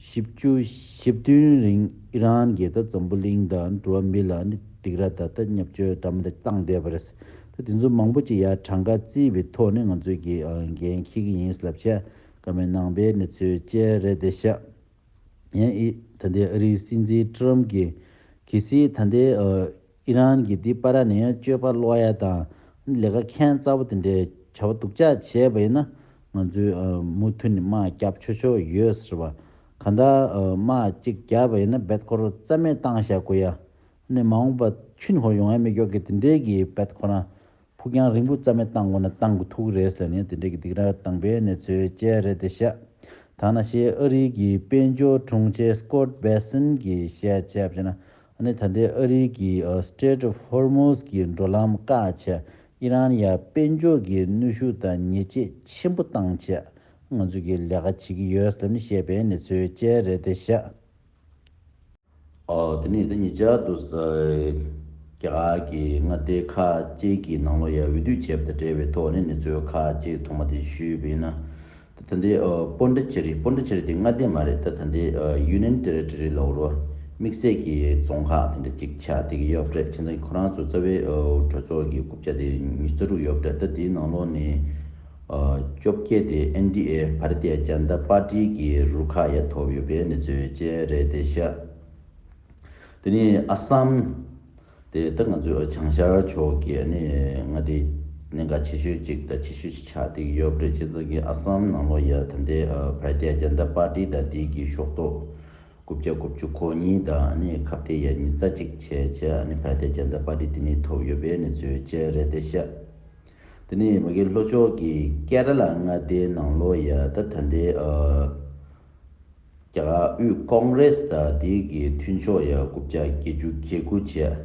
བཞི་བཅུ་བཞི་བདུན་རིང་ཨི་རན་གྱིས་ད་འཛམ་བུ་གླིང་དང་འགྲོ་བ་མི་ལ་ནི་སྡིགས་ར་ད་ད་བརྙབ་བཅོལ་འདྲ་མོ་རེ་བཏང་བསྡད་པ་རེད། ད་དེ་ཚོ་མང་པོ་ཅིག་ཡ་གྲངས་ཀ་རྩིས་པའི་ཐོག་ནས་ང་ཚོས་ཀྱི་འགན་འཁྱེར་གྱི་ཡིན་ལབ་བྱ་དཀའ་མོད་ནང་པའི་གནས་ཚུལ་བཅས་རེད་དེ་ཤ་ཡན་ཨི་ད་ལྟའི་ཨ་རིའི་སྲིད་འཛིན་ཀྲུའམ་གྱིས་གལ་སྲིད་ད་ལྟའི་ཨི་ཨི་རན་གྱིས་འདི་པ་ར་ནས་སྤྱོད་པ་ལོག་ཡ་དང་ལས་ཀ་མཁན་རྩ་བོ་དེ་འདྲའི་བྱ་བ་སྡུག་ཅག་བྱས་པ་ཡིན་ན་ང་ཚོས་མུ་མཐུད་ནས་དམག་རྒྱབ་ཆོག་ཆོག་ཡོད་ཟེར་བ་ག་འདྲ་དམག་གཅིག་རྒྱབ་པ་ཡིན་ན་བེད་ཁོ་རོ་རྩ་མེད་བཏང་བཞག་དགོས་ཡ་ནི་མ་འོངས་པ་ཆུན་ཧོར་ཡོང་ཡ་མི་ཀྱོག་གི་དེ་འདྲའི་གི་བེད་ཁོ་རང་ཕུགས་རྒྱང་རིང་པོ་རྩ་མེད་བཏང་དགོས་ན་བཏང་དགོས་ཐུག་གི་རེད་ཟེར་ནས་དེ་འདྲའི་གི་སྡིག་ར་བཏང་པའི་གནས་ཚོད་བཅས་རེད་དེ་བཤད་ད་ན་ཤེས་ཨ་རིའི་གི་དཔལ་འབྱོར་དྲུང་ཆེ Scott Bessent གི་བཤད་བྱས་པ་བྱས་ན་ཨ་ནི་ད་ལྟའི་ཨ་རི་གི Strait of Hormuz གི་འགྲོ་ལམ་བཀག་ཆ་ཨི་རན་ཡར་དཔལ་འབྱོར་གྱི་གནོད་ཤུགས་དང་ཉེས་ཆད་ཆེན་པོ་བཏང་ཆ་ང་ཚོས་གི་ལས་ཀ་བྱེད་ཀྱི་ཡོད་སམ་བཤད་པའི་ནི་ཚོའི་དཔྱད་རེད་དེ་ཤག་དེ་ནི་ད་ཉི་ཅག་ཏུ་ས་སྐྱ་གི་མངའ་སྡེ་ཁག་གཅིག་གི་ནང་ལོ་ཡར་འོས་བསྡུ་བྱས་པ་དང་འབྲེལ་བའི་ཐོག་ནི་ནི་ཚོའི་ཁག་གཅིག་ཐོག་མ་དེ་ཞུས་པ་ཡིན་ན་ད་ད་འདི་སྤོ་འདྲེ་ཅེ་རི་སྤོ་འདྲེ་ཅེ་རི་དེ་མངའ་སྡེ་མ་རེད་ད་ད་འདི་ཡུན་ནན་ཏེ་རི་ཏེ་རི་ལོག་རོ། དམིགས་བསལ་གྱི་རྫོང་ཁག་དེ་འདྲ་གཅིག་ཆགས་བསྡད་ཀྱི་ཡོད་རེད་ཁྱེད་ཚང་གི་ཁོ་རང་ཚོ་རྩ་བའི་གྲོས་ཚོགས་ཀྱི་རྐུབ་བཀྱག་དེ་ཉིས་བརྩེགས་དྲུག་ཡོད་རེད་ད་དེའི་ནང་ལོགས་ནས་བཅོ་བརྒྱད་དེ་ཨན་ཏི་ཨེ་བྷ་རི་ཏའི་རྒྱ་མདའ་དཔར་སྒྲིལ་གྱི་རུ་ཁག་ཡ་ཐོབ་ཡོད་པའི་གནས་ཚུལ་བཅས་རེད་དེ་ཤ་དེ་ནི་ཨ་སམ། དེ་ལྟར་ང་ཚོའི་བྱང་ཤར་ཕྱོགས་ཀྱི་ནི་མངའ་སྡེ་ནི་འགའ་ཆེ་ཤོས་གཅིག་དང་ཆེ་ཤོས་གཅིག་ཆ་སྟེགས་ཡོད་པ་རེད་སྤྱི་ཚོགས་ཀྱི་ཨ་སམ་ནང་ལོ་ཡ་ད་ལྟའི་བར་རྒྱ་རྒྱ་འདི་པར་ཏི་དང་དེ་གི་ཤོག་ཏོག་དགུ་བརྒྱ་དགུ་བཅུ་གོ་གཉིས་དང་ནི་ཁ་བརྡའི་ཡ་གཉིས་རྩ་གཅིག་བྱས་བྱས་ནི་བར་རྒྱ་རྒྱ་འདི་པར་ཏི་དེ་ནི་ཐོབ་ཡོད་པའི་ནི་ཚུལ་བཅས་རེད་དེ་ཤ་དེ་ནི་མི་གི་ལྷོ་ཕྱོགས་ཀྱི་ཀེ་ར་ལ་མངའ་སྡེའི་ནང་ལོ་ཡ་ད་ད་ལྟའི་རྒྱ་ནག་དབུས་ཀོང་རེ་སི་དང་དེ་གི་མཐུན་ཕྱོགས་ཡ་རྐུབ་བཅག་བསྐྱེད་རྒྱུ་གལ་སྐུལ་བྱས།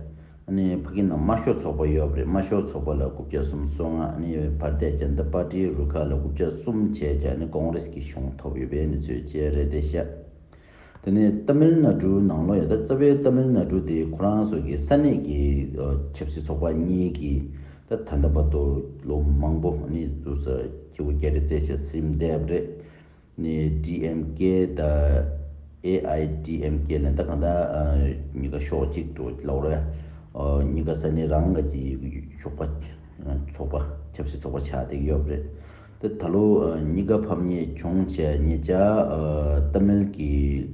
ཨནི་ཕ་ཀི་ནང་དམར་ཤོག་ཚོགས་པ་ཡོད་པ་རེད་དམར་ཤོག་ཚོགས་པ་ལ་རྐུབ་བཅག་གསུམ་གསོ་ང་ཨནི་བར་དད་རྒྱ་མདའ་པར་ཏིའི་རུ་ཁག་ལ་རྐུབ་བཅག་གསུམ་བྱས་ཀྱང་ཨནི་ཀོང་རེ་སི་གི་གཞུང་ཐོབ་ཡོད་པའི་གནས་ཚུལ་བཅས་རེད་དེ་བཤད། དེ་ནི་ཏཱ་མིལ་ནཱ་ཀྲུའུ་ནང་ལོ་ཡ་དག་རྩ་བའི་ཏཱ་མིལ་ནཱ་ཀྲུའུ་དེ་ཁོ་རང་སོགས་ཀྱི་ས་གནས་ཀྱི་ཆབ་སྲིད་ཚོགས་པ་གཉིས་ཀྱི་ད་ད་ལྟ་བར་དུ་ལོ་མང་པོ་ཨནི་བསྡུར་ས་སྐྱེ་བོ་བརྒྱ་རེ་བཙལ་བྱས་ཟིན་བསྡད་པ་རེད། ནས་ཀྲི་ཨེམ་ཀེ་དང་ཨེ་ཨའི་ཀྲི་ཨེམ་ཀེ་ནས་ད་གང་ལྟར་གཉིས་ཀ་ཕྱོགས་གཅིག་ཏུ་ལ་བ་རེད། གཉིས་ཀ་ས་གནས་རང་ཀྱི་ཞོགས་པ་ཚོགས་པ་ཆབ་སྲིད་ཚོགས་པ་ཆགས་ཏེ་ཡོད་རེད། ད་ད་ལོ་གཉིས་ཀ་ཕམ་ཉེས་བྱུང་བྱས་ཉེས་ཅག་ཏཱ་མིལ་གྱི་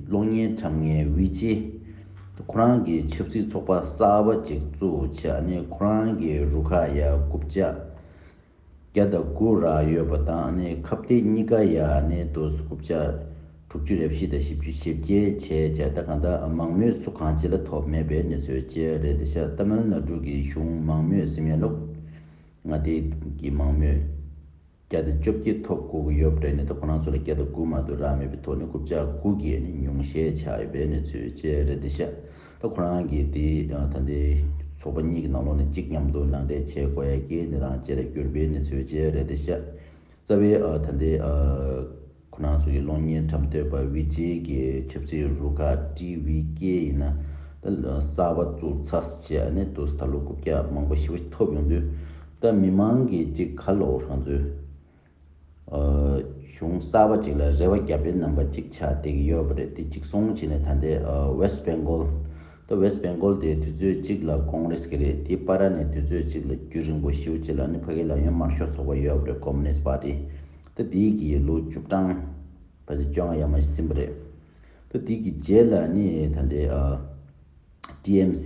གློག་བརྙན་ཁྲམ་ངན་དབུས་རྗེས་ཁོ་རང་གི་ཆབ་སྲིད་ཚོགས་པ་གསར་བ་ཅིག་བཙུགས་བྱས་ནས་ཁོ་རང་གི་རུ་ཁག་ཡར་རྐུབ་བཅགས། བརྒྱ་དང་དགུ་རག་ཡོད་པ་དང་ནི་ཁབ་སྟེ་གཉིས་ཀ་ཡ་ནི་དོ་སུ་ཀུབ་བྱ་དྲུག་ཅུ་རེ་བཞི་དང་བཞི་བཅུ་ཞེ་བརྒྱད་བྱས་བྱས་ད་གང་ད་མང་མོས་སུ་གང་ཅི་ལ་ཐོབ་མེད་པའི་ནི་ཚོའི་བཅས་རེད་འདི་ཤ་སྟ་མལ་ན་དྲུག་གི་གཞུང་མང་མོས་སི་མེ་ལོག་ང་དེ་གི་མང་མོས་བརྒྱ་དང་བཅོ་བརྒྱད་ཐོབ་དགོ་གི་ཡོད་རེད་ནི་ད་ཁོ་རང་ཚོ་ལ་བརྒྱ་དང་དགུ་མ་དུ་རག་མེད་པའི་ཐོག་ནི་ཀུབ་བྱ་དགུ་གི་ནི་ཉུང་ཤས་ཆགས་ཡོད་པའི་ནི་ཚོའི་བཅས་རེད་འདི་ཤ། ད་ཁོ་རང་གིས་དེ་ད་ལྟའི་ཚོགས་པ་གཉིས་ཀྱི་ནང་ལོགས་ནས་གཅིག་མཉམ་དུ་ནང་འདྲེན་བྱེད་དགོས་ཀྱི་ནི་དང་བཅས་ལ་གྱུར་པའི་ནི་ཚོད་བཅས་རེད་དེ་ཤ་ཚ་བའི་ད་ལྟའི་ཁོ་རང་ཚོ་གི་གློག་བརྙན་འཁྲབ་འདོད་པ་བྷི་ཇེ་གི་ཆབ་སྲིད་རུ་ཁག་ཀྲི་བྷི་ཀེ་ཡིན་ན་ད་གསར་བ་བཙུགས་ཚར་བྱས་ཨ་ནི་དུས་ད་ལོ་རྐུབ་བཀྱག་མང་པོ་ཞི་བ་ཐོབ་ཡོང་དུས་ད་མི་མང་གིས་ཅིག་ཁ་ལོག་རང་ཚོའི་གཞུང་གསར་པ་ཅིག་ལ་རེ་བ་རྒྱབ་པའི་རྣམ་པ་ཅིག་ཆགས་བསྡད་ཀྱི་ཡོད་པ་རེད་དེ་གཅིག་སོང་བྱས་ནས་ད་ལྟའི West Bengal ད West Bengal དེ་དུས་ཚོད་གཅིག་ལ Congress གི་རེད་དེ་པ་ར་ནས་དུས་ཚོད་གཅིག་ལ་རྒྱུ་རིང་པོ་ཞིའུ་ཅེ་ལ་ནི་ཕ་གི་ལག་གཡོན་དམར་ཤོག་ཚོགས་པ་ཡོད་པ་རེད Communist Party ད་དེའི་གི་ལོ་བཅུ་གྲངས་བ་ཚེ་བཅོ་ལྔ་ཡར་མ་ཞིག་ཟིན་པ་རེད་ད་དེའི་གི་རྗེས་ལ་ནི་ད་ལྟའི DMC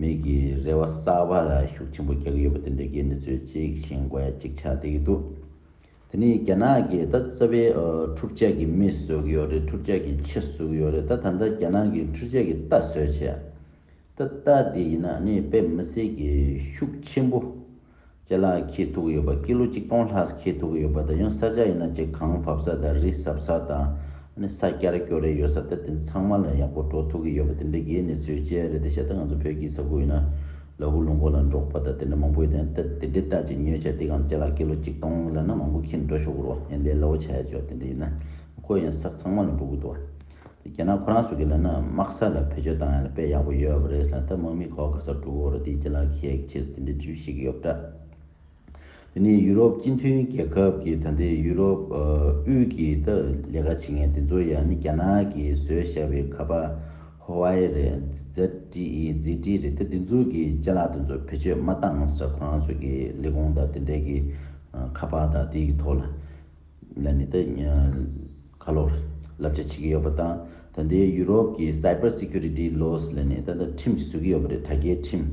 མིག་གི་རེ་བ་གསར་པ་ལ་ཤུགས་ཆེན་པོ་རྒྱག་གི་ཡོད་པ་དེ་འདྲའི་དགེ་མི་ཚོས་གཅིག་བཞེངས་དགོས་ཡ་གཅིག་ཆགས་བསྡད་ཀྱི་འདུག་དེ་ནི་རྒྱ་ནག་གིས་ད་རྩ་བའི་འཁྲུག་ཆ་གི་མི་བཟོ་གི་ཡོད་རེད་འཁྲུག་ཆ་གི་ཆེ་བཟོ་གི་ཡོད་རེད་ད་ད་ལྟ་རྒྱ་ནག་གིས་འཁྲུག་ཆ་གི་རྟ་བཟོས་བྱས་ད་རྟ་དེ་ཡིན་ན་ནི་དཔེ་མི་སྲིད་གི་ཤུགས་ཆེན་པོ། ལ་ཁྱི་ཐུག་ཡོད་པ་ཀི་ལོ་གཅིག་སྟོང་ལྷག་ཁྱི་ཐུག་གི་ཡོད་པ་དང་ཡང་ས་ཆ་ཡིན་ན་ཅིག་གངས་བབས་ས་དང་རི་ཟབ་ས་དང་ས་སྐྱར་སྐྱོ་རེ་ཡོད་ས་དེ་དེ་ཚང་མ་ལ་ཡག་པོ་འགྲོ་ཐུག་གི་ཡོད་པ་དེ་འདྲའི་གེའི་གནས་ཚུལ་བཅས་རེད་དེ་བྱས་ད་ང་ཚོ་བོད་ཀྱི་ས་ཁུལ་ཡིན་ན་ལ་ཧུ་ལུང་ཁོ་ལ་འབྲོག་པ་དང་དེ་འདྲ་མང་པོ་ཡོད་དེ་འདྲ་དེ་འདྲའི་སྟག་ཅིག་ཉོས་བྱས་དེ་གངས་ལྕགས་ལ་ཀི་ལོ་གཅིག་སྟོང་ལ་ན་མང་པོ་ཁྱི་འགྲོ་ཆོག་གི་རོ་ཡང་ལས་སླ་བོ་བྱས་བྱས་དེ་འདྲ་ཡིན་ན་ཁོ་ཡང་ས་ཚང་མ་ལ་འགྲོ་གི་འདུག་བ། རྒྱ་ནག་ཁོ་རང་སུ་གི་ལ་ནི་དམག་ས་ལ་བེད་སྤྱོད་བཏང་ཡང་ལ་དཔེ་ཡག་པོ་ཡོད་པ་རེད་ས་ད་དམག་མི་ཁོག་ག་སར་དཀྲུག་གོ་རོ་དེའི་རྗེས་ལ་ཁྱེད་ཆེད་དུ་དེ་འདྲའི་འདྲི་ཞིག་ཡོད་པ་འདྲ། དེ་ནི་ཡུ་རོབ་སྤྱི་མཐུན་རྒྱལ་ཁབ་ཀྱི་ད་ལྟའི་ཡུ་རོབ་དབུས་ཀྱི་ད་ལས་ཀ་བྱེད་མཁན་དེ་ཚོ་ཡང་ནི་རྒྱ་ནག་གི་བཟོས་བཞག་པའི་ཁ་པ Huawei རེད ZTE རེད་ད་དེ་ཚོ་གི་རྗེས་ལ་དེ་ཚོ་བེད་སྤྱོད་མ་བཏང་ས་ཁོ་རང་སུ་གི་ལས་ཁུངས་དང་དེ་འབྲེལ་གི་ཁ་པ་དང་དེའི་ཐོག་ལ་ལ་ནི་དེ་ཁ་ལོར་བསླབ་བྱ་བྱེད་ཀྱི་ཡོད་པ་དང་ད་འདི་ཡུ་རོབ་ཀྱི Cyber Security Laws ལ་ནི་ད་ལྟ་ཁྲིམས་བཟོས་ཀྱི་ཡོད་པ་རེད་དྲ་རྒྱའི་ཁྲིམས།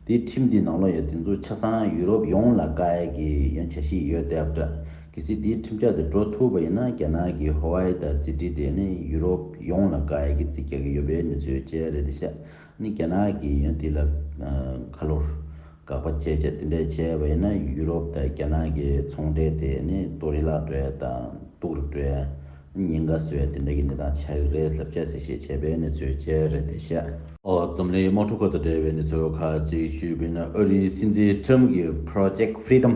དེའི་ཁྲིམས་དེའི་ནང་ལོ་ཡ་དེ་ཚོ་ཆ་ཚང་ཡུ་རོབ་ཡོངས་ལ་བཀའ་ཡལ་གྱི་ཡོན་བྱ་ཞིག་ཡོད་དེ་ཨབ་དྲ་གི་སི་དེའི་ཁྲིམས་ཆག་དེ་འགྲོ་ཐུབ་པ་ཡིན་ན་རྒྱ་ནག་གི Huawei དང་ཙི་ཏི་དེ་ནི་ཡུ་རོབ་ཡོངས་ལ་བཀའ་ཡལ་གྱི་རྩིས་རྒྱག་གི་ཡོད་པའི་མི་ཚོའི་དཔྱད་རེད་དེ་ཤ་ནི་རྒྱ་ནག་གིས་ཡང་དེ་ལ་ཁ་ལོ་བཀག་པ་བཅས་བྱས་དེ་འདྲ་བྱས་པ་ཡིན་ན་ཡུ་རོབ་དང་རྒྱ་ནག་གི་ཚོང་འབྲེལ་དེ་ནི་ལྟོ་རི་བརླག་འདྲའི་དང་སྟུག་རི་འདྲའི་ཉེན་ཁ་བཟོས་དེ་འདྲ་གི་གནས་སྟངས་ཆགས་ཀྱི་རེད་ལབ་ཅེས་གསལ་བཤད་བྱས་པའི་གནས་ཚུལ་བཅས་རེད་དེ་བཤད། འཛམ་གླིང་དམག་འཁྲུག་ཁག་དང་འབྲེལ་བའི་གནས་ཚུལ་ཁག་ཅིག་ཞུས་པས་ན་ཨ་རིའི་སྲིད་འཛིན་ཁྲིམས་ཀྱི Project Freedom།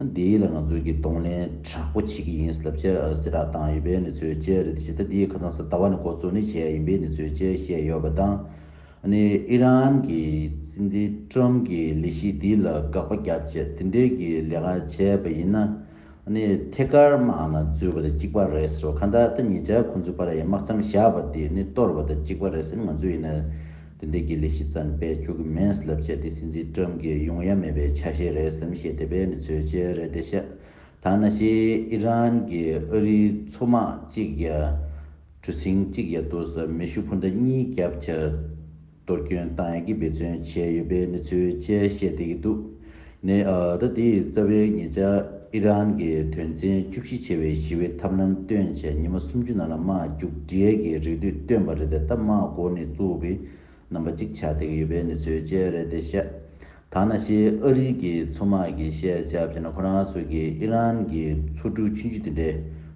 འདི་ལ་ང་ཚོས་ཀྱིས་གདོང་ལེན་དྲག་པོ་བྱེད་ཀྱི་ཡིན་ཟེར་ལབ་བྱས་སེ་རག་བཏང་ཡོད་པའི་གནས་ཚུལ་བཅས་རེད་དེ་ཇི་ལྟ་དེའི་ཁ་ཚང་སེ་ལྟ་བ་ནི་གོ་ཚོད་ནི་བྱས་ཡིན་པའི་གནས་ཚུལ་བཅས་བཤད་ཡོད་པ་དང། ཨི་རན་གྱི་སྲིད་འཛིན་ཀྲོམ་གྱི་ལས་གཞི་འདི་ལ་དགག་པ་རྒྱབ་ཆེད་དེ་འབྲེལ་གྱི་ལས་ཀ་བྱས་པ་ཡིན་ན། ཐད་ཀར་དམག་ནང་འཛུལ་བ་དང་གཅིག་པ་རེད་ཟེར་བ་ཁ་འདར་ད་ཉེ་ཆར་ཁོང་ཚོའི་བར་ཡང་དམག་མཚམས་བཞག་པ་དེ་ནི་གཏོར་བ་དང་གཅིག་པ་རེད་ཟེར་ང་ཚོས་ཡིན་ན། དེ་འདྲའི་དགེ་ལས་བཞི་ཙམ་སྤེལ་བཅུག་གི་མིན་ལབ་བྱས་དེ་སྲིད་འཛིན་ཀྲམ་གྱི་ཡོང་ཡ་མེད་པའི་ཆ་ཤས་རེད་སེམས་ཤེས་དེ་བས་ནི་ཚོད་ཆེ་རེད་དེ་ཤ་ཐང་ན་ཤེས་ཨི་རན་གྱི་ཨ་རིའི་མཚོ་དམག་གཅིག་ཡ་གྲུ་ཟིང་གཅིག་ཡ་དུ་ས་མེ་ཤུ་ཕུ་མདའ་གཉིས་རྒྱབ་ཆ་གཏོར་སྐྱོན་བཏང་ཡ་གི་འབད་བརྩོན་བྱས་ཡོད་པས་ནི་ཚོད་ཆེ་ཤེས་དེ་གི་འདུག་ནས་ཟླ་འདིའི་རྩ་བའི་ཉེ་ཆར་ཨི་རན་གྱི་དོན་ཚན་བཅུ་བཞི་ཆེ་བའི་ཞི་བའི་ཐབས་ལམ་སྟོན་ཆེད་ཉི་མ་སུམ་ཅུ་ནང་ལ་དམག་རྒྱུག་འབྲས་ཀྱི་རེ་འདུན་བཏོན་པ་རེད་དེ་ལྟ་དམག་མགོ་ནི་གཙུག་གི་རྣམ་པ་གཅིག་ཆགས་བསྡད་ཀྱི་ཡོད་པའི་གནས་ཚུལ་བཅས་རེད་དེ་ཤ་ཐང་ན་ཤི་ཨ་རིའི་གི་མཚོ་དམག་གི་ཤེས་བྱ་བྱས་ན་ཁོ་རང་ཚོ་གི་ཨི་རན་གི་མཚོ་གྲུ་ཆུང་ཆུང་དེ་འདྲའི་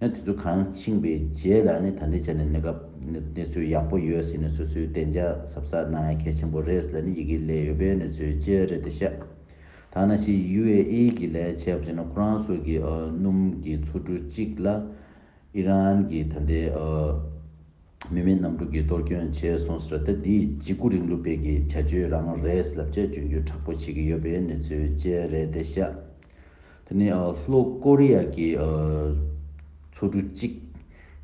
དེ་ཚོ་གང་འཆིང་བའི་རྗེས་ལ་ནི་ད་ལྟའི་ཆར་ནི་གནས་སྐབས་གནས་ཚུལ་ཡག་པོ་ཡོད་ཟེར་ནས་སོ་སོའི་བདེ་འཇགས་གཟབ་གཟབ་གནང་ཡ་གལ་ཆེན་པོ་རེད་ཟེར་ནས་ཡི་གེ་ལས་ཡོད་པའི་གནས་ཚུལ་ཅི་རེད་འདི་བཤད། ཐ་ན་ཕྱི་ཡུ་ཨེ་ཨེ་གྱི་ལས་བྱེད་པ་ཚོས་ནི་ཁོ་རང་སོགས་ཀྱི་སྣུམ་གྱི་ཆུ་གྲུ་གཅིག་ལ་ཨི་རན་གྱི་ད་ལྟའི་མི་མེད་གནམ་གྲུ་གིས་གཏོར་སྐྱོན་བྱས་སོང་ཟེར་ད་འདི་འཇིགས་སྐུལ་རིང་ལུགས་སྤེལ་གྱི་བྱ་སྤྱོད་རང་རེད་ལབ་བྱས་སྤྱོད་འཇུག་དྲག་པོ་བྱེད་ཀྱི་ཡོད་པའི་གནས་ཚུལ་ཅི་རེད་འདི་བཤད། དེ་ནི་ལྷོ་ཀོ་རི་ཡ་གྱི་མཚོ་གྲུ་གཅིག་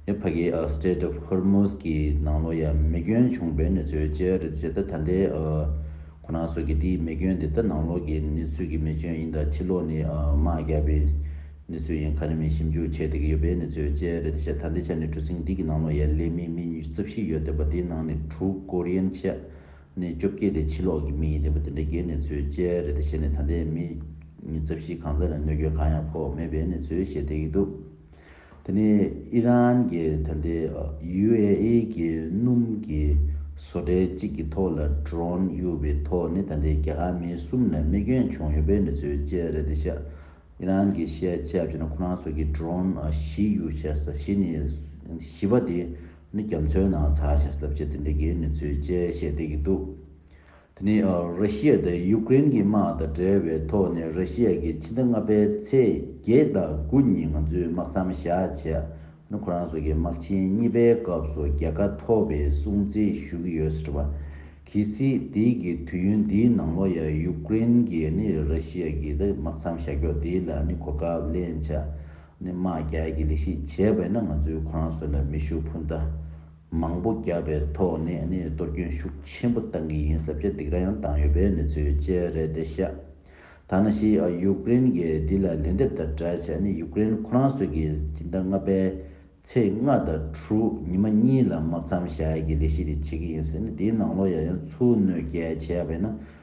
ནི་ཕ་གི Strait of Hormuz གྱི་ནང་ལོ་ཡ་མེ་སྐྱོན་བྱུང་བའི་གནས་ཚུལ་བཅས་རེད་ཅེས་ད་ལྟའི་ཁོ་ན་སོགས་ཀྱིས་དེའི་མེ་སྐྱོན་དེ་ད་ནང་ལོགས་ཀྱི་གནས་ཚུལ་གྱི་མེ་སྐྱོན་ཡིན་དང་ཕྱི་ལོགས་ནི་དམག་བརྒྱབ་པའི་གནས་ཚུལ་ཡིན་ཁ་ནི་མི་ཞིབ་འཇུག་བྱེད་བསྡད་ཀྱི་ཡོད་པའི་གནས་ཚུལ་བཅས་རེད་ཅེས་ད་ལྟའི་ཆ་ནས་གྲུ་གཟིངས་འདི་གི་ནང་ལོ་ཡའི་ལས་མི་མི་ཉིས་བརྩེ་བཞི་ཡོད་བསྡད་པ་དེའི་ནང་ནས་དྲུག་ཀོ་རི་ཡན་ཆད་ནས་སྐྱོབ་སྐྱེལ་དེ་ཕྱི་ལོག་གི་མི་ཡིན་རེད་པ་དེ་འདྲ་རྒྱའི་ནེ་ཙོའི་དཔྱད་རེད་དེ་བཤད་ནས་ད་ལྟའི་མི་རྩ་བཞི་གང་ཟག་ལ་གནོད་སྐྱོན་གང་ཡང་ཕོག་མེད་པའི་ནེ་ཙོའི་བཤད་བསྡད་ཀྱི་འདུག་དེ་ནི་ཨི་རན་གྱི་ད་ལྟའི UAE གྱི་སྣུམ་གྱི་བཟོ་གྲྭའི་གཅིག་གི་ཐོག་ལ Drone གཡུག་པའི་ཐོག་ནས་ད་ལྟའི་རྒྱ་གར་མི་གསུམ་ལ་རྨས་སྐྱོན་བྱུང་ཡོད་པའི་ནེ་ཙོའི་དཔྱད་རེད་དེ་བཤད། ཨི་རན་གྱི་བཤད་ཆས་བརྒྱུད་ན་ཁོ་རང་ཚོ་གི Drone བཞི་གཡུག་བྱས་ས་བཞི་ནི་བཞི་པ་དེ་ནི་རྒྱ་མཚོའི་ནང་ཚགས་ཞེས་ལབ་ཀྱི་དེ་འདྲ་གི་གནས་ཚུལ་བཅས་བཤད་བསྡད་ཀྱི་འདུག་དེ་ནི་རི་ཤི་ཡ་དང་ཡུག་ཀེ་རེན་གྱི་དམག་དང་འབྲེལ་བའི་ཐོག་ནས་རི་ཤི་ཡ་གྱི་ཕྱི་ཟླ་ལྔ་པའི་ཚེས་བརྒྱད་དང་དགུ་ཉིན་ང་ཚོས་དམག་མཚམས་བཞག་བྱས་ནས་ཁོ་རང་སོགས་ཀྱི་དམག་ཆེན་གཉིས་པའི་སྐབས་སུ་རྒྱལ་ཁ་ཐོབ་པའི་སྲུང་བརྩི་ཞུ་གི་ཡོད་ཟེར་བ། གལ་སྲིད་དེ་གི་དུས་ཡུན་འདིའི་ནང་ལོ་ཡར་ཡུག་ཀེ་རེན་གྱིས་ནི་རི་ཤི་ཡ་གྱི་དམག་མཚམས་བཞག་ཕྱོགས་དེ་ལ་ནི་གོ་སྐབས་ལེན་བྱས། ནས་དམག་རྒྱག་གི་ལས་ཤིག་བྱས་པས་ན་ང་ཚོའི་ཁོ་རང་ཚོ་ལ་མི་ཤུགས་འཕུར་མདའ་མང་པོ་རྒྱག་པའི་ཐོག་ནས་ནི་གཏོར་སྐྱོན་ཤུགས་ཆེན་པོ་བཏང་གི་ཡིན་ཟབ་ཆ་སྡིག་ར་ཡང་བཏང་ཡོད་པའི་གནས་ཚུལ་བཅས་རེད་དེ་ཤ་ཐ་ན་ཤི་ཨ་ཡུཀ་རེན་གྱི་འདི་ལ་ལན་འདེབས་དང་སྦྲགས་ཤ་ནི་ཡུཀ་རེན་ཁོ་རང་ཚོ་གི་སྤྱི་ཟླ་ལྔ་པའི་ཚེས་ལྔ་དང་དྲུག་ཉི་མ་གཉིས་ལ་དམག་མཚམས་བཞག་གི་ལས་ཤིག་རེ་བྱེད་ཀྱི་ཡིན་ཟེར་ནས་དེའི་ནང་ལོ་ཡང་ཡང་ཚུར་གནོད་བསྐྱལ་བྱས་པས་ན།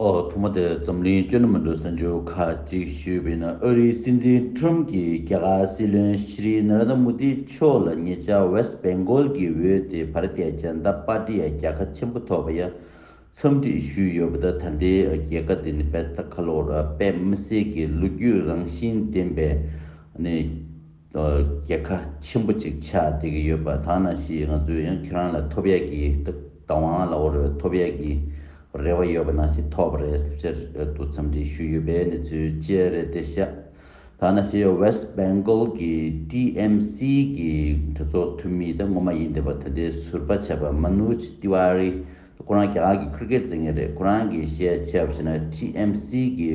ཨོ་ཐུགས་མ་དེར་འཛམ་གླིང་བཅོ་ལྔ་མི་འགྲོ་གསར་འགྱུར་ཁག་ཅིག་ཞུས་པས་ན་ཨ་རིའི་སྲིད་འཛིན Trump གྱིས་རྒྱ་གར་སྲིད་བློན Shri Narendra Modi མཆོག་ལ་ཉེ་ཆར West Bengal གྱི་འོས་དེ Bharatiya Janata Party རྒྱལ་ཁ་ཆེན་པོ་ཐོབ་པ་ཡང་འཚམས་འདྲི་ཞུས་ཡོད་པ་དང་ད་ལྟའི་རྒྱལ་ཁ་དེ་ནི་དཔལ་ཐ་ཁ་ལོར་དཔལ་མི་སེར་གྱི་ལོ་རྒྱུས་རང་བཞིན་ལྡན་པའི་རྒྱལ་ཁ་ཆེན་པོ་ཅིག་ཆགས་བསྡད་ཀྱི་ཡོད་པ་དག་ན་ཞིག་ང་ཚོས་ཡང་ཁྱེད་རང་ལ་ཐོབ་ཡ་གི་བདག་དབང་ལ་བོར་བའི་ཐོབ་ཡ་གི་རེ་བ་ཡོད་པ་ན་ཞིག་ཐོབ་རེད་ཟེར་ཕྱིར་དུ་འཚམས་འདྲི་ཞུས་ཡོད་པའི་གནས་ཚུལ་བཅས་རེད་དེ་ཤ་དག་ན་ཞིག West Bengal གི TMC གི་གྲོས་ཚོགས་འཐུས་མི་དང་ངོ་མ་ཡིན་བསྡད་པ་ད་ལྟའི་ཟུར་པ་བྱས་པ Manoj Tiwari ཁོ་རང་རྒྱ་གར་གྱི Cricket རྩེད་མཁན་རེད་ཁོ་རང་གིས་བཤད་ཆབ་བྱས་ན TMC གི་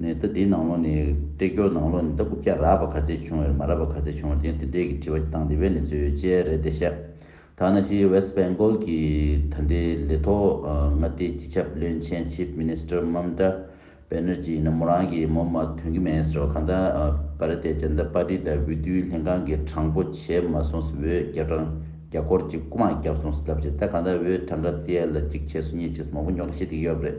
ནས་རྟ་དེའི་ནང་ལོགས་ནས་སྟེགས་སྐྱོར་ནང་ལོགས་ནས་རྟ་རྐུབ་བཀྱག་རགས་པ་ག་ཚད་བྱུང་བའི་རིགས་མ་རགས་པ་ག་ཚད་བྱུང་བ་དེ་ཡང་དེ་འབྲེལ་གྱི་དྲི་བ་བཏང་སྟེ་བས་ནས་ཚོད་ཡོད་ཅེས་རེད་བལྟས་ཤག་ཐ་ན་ཕྱིའི West Bengal གྱི་ད་ལྟའི་ལས་ཐོག་མངའ་སྡེའི་སྤྱི་ཁྱབ་བློན་ཆེན Chief Minister Mamta Banerjee ཡིན་ན་མོ་རང་གིས་མོ་མ་དོན་གྱི་མེད་ཟེར་བ་གང་ལྟར Bharatiya Janata Party དང་འོས་བསྡུའི་ལྷན་ཁང་གིས་དྲང་པོ་བྱས་མ་སོང་ཟེར་འོས་བརྒྱ་གྲངས་བརྒྱ་སྐོར་གཅིག་རྐུ་མ་བརྒྱབ་སོང་ཟེར་ཐབས་བྱས་ད་གང་ལྟར་འོས་གྲངས་ག་ཚད་ལ་གཅིག་བྱས་སོ་གཉིས་བྱས་སོ་མང་པོ་ཉོག་དྲ་བྱེད་དེ་ཡོད་རེད།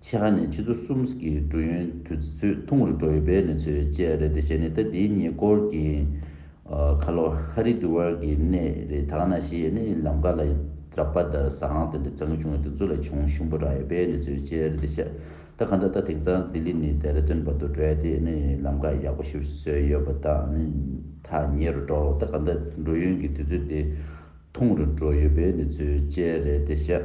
ཆེ་ཁ་ནས་ཕྱི་ཚོ་གསུམ་གྱི་འགྲུལ་ཡོན་དུས་ཚོད་ཐུང་ངུ་རུ་འགྲོ་ཡི་བའི་གནས་ཚུལ་བཅས་རེད་དེ་གཞན་ནི་ཟླ་འདིའི་ཉེ་སྐོར་གྱི་ཁ་ལོ་ཧ་རི་དུ་ཝར་གྱི་གནས་རི་དྷ་ར་ན་ཤི་ཡའི་གནས་ཡིན་ལམ་ཁ་ལ་རཱ་པ་དཱ་ས་ཨང་དེ་འདྲ་བྱང་གི་བྱུང་བའི་དུས་ཚོད་ལ་ཆུང་ཞིང་པོ་རག་ཡོད་པའི་གནས་ཚུལ་བཅས་རེད་དེ་ཤ་ད་ག་འདྲ་ད་དེང་སང་ལྡི་ལི་ནས་དེ་ར་ཏོན་བར་དུ་འགྲོ་ཡ་དེ་ནི་ལམ་ཁ་ཡག་པོ་ཞིག་བཟོས་ཡོད་པ་དང་ནི་ཐ་ཉེ་རུ་འགྲོ་ལོ་ད་ག་འདྲ་འགྲུལ་ཡོན་གྱི་དུས་ཚོད་དེ་ཐུང་རུ་འགྲོ་ཡོད་པའི་གནས་ཚུལ་བཅས་རེད་དེ་ཤ།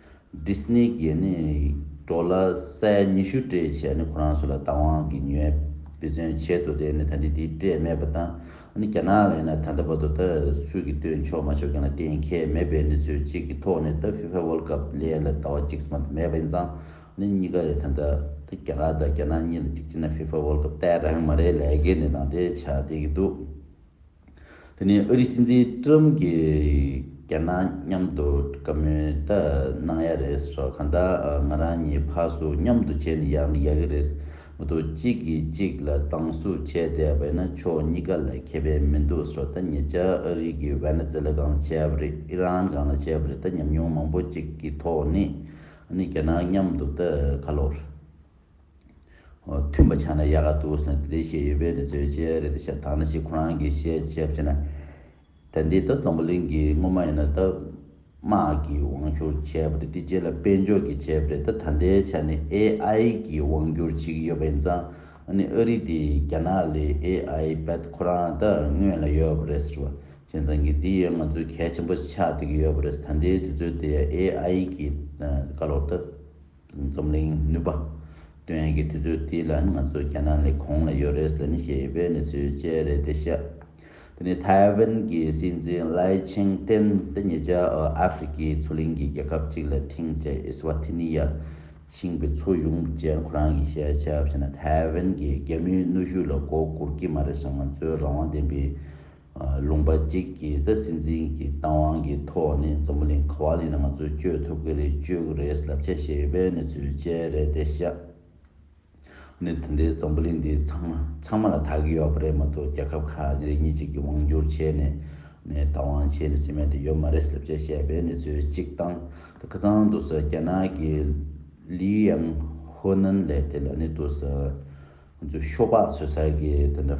Disney གྱིས་གྲོ་ལ་སའི་ཉི་ཤུ་སྤྲད་བྱས་ནས་ཁོ་རང་ཚོ་ལ་བདག་དབང་གི་ཉོས་དཔེ་མཚོན་བྱེད་དུ་བསྡད་ནས་ད་ནི་དེའི་སྤྲད་མེད་པ་དང་རྒྱ་ནག་ལ་ཡིན་ན་ད་ལྟ་བར་དུ་ད་སུས་ཀྱིས་བཏོན་ཆོག་མ་ཆོག་གྱང་ལ་གཏན་འཁེལ་མེད་པས་འདི་ཚོས་གཅིག་གི་ཐོག་ནས་ད FIFA World Cup ལས་ལ་ད་བ་གཅིག་སམ་དུ་མེད་པ་ཡིན་ཙང་གཉིས་ཀ་རེད་ད་ད་རྒྱ་གར་དང་རྒྱ་ནག་གཉིས་ལ་གཅིག་བྱས་ན FIFA World Cup ལྟའི་རང་མ་རེད་ལས་ཀའི་འདི་དང་དེ་བྱ་བསྡད་ཀྱི་འདུག། དེ་ནས་ཨུ་རིགས་སྲིད་འཛིན་ཀྲུམ་གྱིས་རྒྱ་ནག་མཉམ་དུ་བཀའ་མོལ་ད་གནང་ཡ་རེད་སོགས་གང་ལྟར་ང་རང་གཉིས་ཕར་ཚུར་མཉམ་དུ་བྱས་ནས་ཡག་ནི་ཡག་གི་རེད་མི་འདུག་གཅིག་གིས་གཅིག་ལ་སྡང་ཟུག་བྱས་བསྡད་པ་ཡིན་ན་ཕྱོགས་གཉིས་ཀ་ལ་ཁེ་ཕན་མི་འདུག་སོགས་ད་ཉེ་ཆར་ཨ་རིག་གིས་ཝེ་ནེ་ཛེ་ལ་གང་ལ་བྱས་པ་རེད་ཨི་རན་གང་ལ་བྱས་པ་རེད་ད་ཉམས་མྱོང་མང་པོ་ཅིག་གི་ཐོག་ནས་ཨ་ནི་རྒྱ་ནག་མཉམ་དུ་ད་ག་ལོར། མཐུན་པ་ཆགས་ན་ཡག་ག་འདུག་ཟེར་ན་དེ་འདྲའི་བཤད་ཡོད་པས་ནི་བཟོད་ཅེས་རེ་ད་བཤད་དང་ན་ཞིག་ཁོ་རང་གིས་བཤད་བྱས་བྱས་ན་ད་འདི་ལྟར་སྡོང་པོ་གླིང་གི་དངོས་མ་ཡིན་ན་ད་དམག་གི་དབང་བསྒྱུར་བྱས་པ་རེད་དེ་རྗེས་ལ་དཔལ་འབྱོར་གྱི་བྱས་པ་རེད་ད་ད་ལྟའི་ཆ་ནས AI གི་དབང་བསྒྱུར་བྱེད་ཀྱི་ཡོད་པ་ཡིན་ཙང་ཨ་ནི་ཨ་རི་དེ་རྒྱ་ནག་ལས AI པད་ཁོ་རང་ད་སྔོན་ལ་ཡོད་པ་རེད་ཟེར་བ་བྱས་ཙང་གི་འདི་ཡང་ང་ཚོའི་གལ་ཆེན་པོ་ཆགས་བསྡད་ཀྱི་ཡོད་པ་རེད་ད་འདི་དུས་ཚོད་དེ AI གི་བཀའ་སློབ་ད། འཛམ་གླིང་ནུས་པ། ཏུན་ཧན་གྱི་དུས་ཚོད་དེ་ལ་ནི་ང་ཚོ་རྒྱ་ནག་ནས་གོང་ལ་ཡོད་རེས་ལ་ནི་ཞེས་པའི་གནས་ཚུལ་བཅས་རེད་དེ་ཤ་དེ་ནི་ཐའེ་ཝན་གྱི་སྲིད་འཛིན་ལའི་ཆིང་ཏེན་ཏེ་ཉེ་ཆར་ཨ་ཧྥེ་རི་ཁའི་མཚོ་གླིང་གི་རྒྱལ་ཁབ་ཅིག་ལ་ཐིང་ཅེ་ཨི་སི་ཝཱ་ཐི་ནི་ཡར་ཕྱིན་པའི་མཚོ་གཞུང་བཅས་ཁོ་རང་གི་ཤེས་བྱ་བྱས་ན་ཐའེ་ཝན་གྱི་རྒྱལ་མོའི་གནོད་ཤུགས་ལ་མགོ་སྒུར་གྱི་མ་རེད་ཟེར་ང་ཚོའི་རང་དབང་ལྡན་པའི་ལུང་པ་གཅིག་གིས་ད་སྲིད་འཛིན་གྱི་བཏང་དབང་གི་ཐོག་ནས་འཛམ་བུ་གླིང་ག་བ་ལས་ན་ང་ཚོས་བསྐྱོད་ཐུབ་ཀྱི་རེད་བསྐྱོད་ཀྱི་རེད་ཟླབ་ཆ་བཤད་ཡོད་པའི་གནས་ཚུལ་བཅས་རེད་དེ་བཤད། གནས་ཚུལ་འདི་འཛམ་བུ་གླིང་འདི་ཚང་མ་ཚང་མ་ལ་དག་གི་ཡོད་པ་རེད་མ་གཏོགས་རྒྱལ་ཁབ་ཁག་རེ་གཉིས་གཅིག་གི་དབང་བསྒྱུར་བྱས་ནས་ནས་བཏང་དབང་བྱས་ནས་སྲིད་མེད་དུ་ཡོད་མ་རེད་ཟླབ་ཆ་བཤད་པའི་གནས་ཚུལ་གཅིག་བཏང་ད་ཁ་ཚང་དུ་ཟེར་རྒྱ་ནག་གི་ལི་ཡང་ཧོ་ནན་ལས་དེ་ལ་ནི་དུ་ཟེར། ཤོ་སྦག་ཟོས་ཚར་གི་དེ་འདྲ།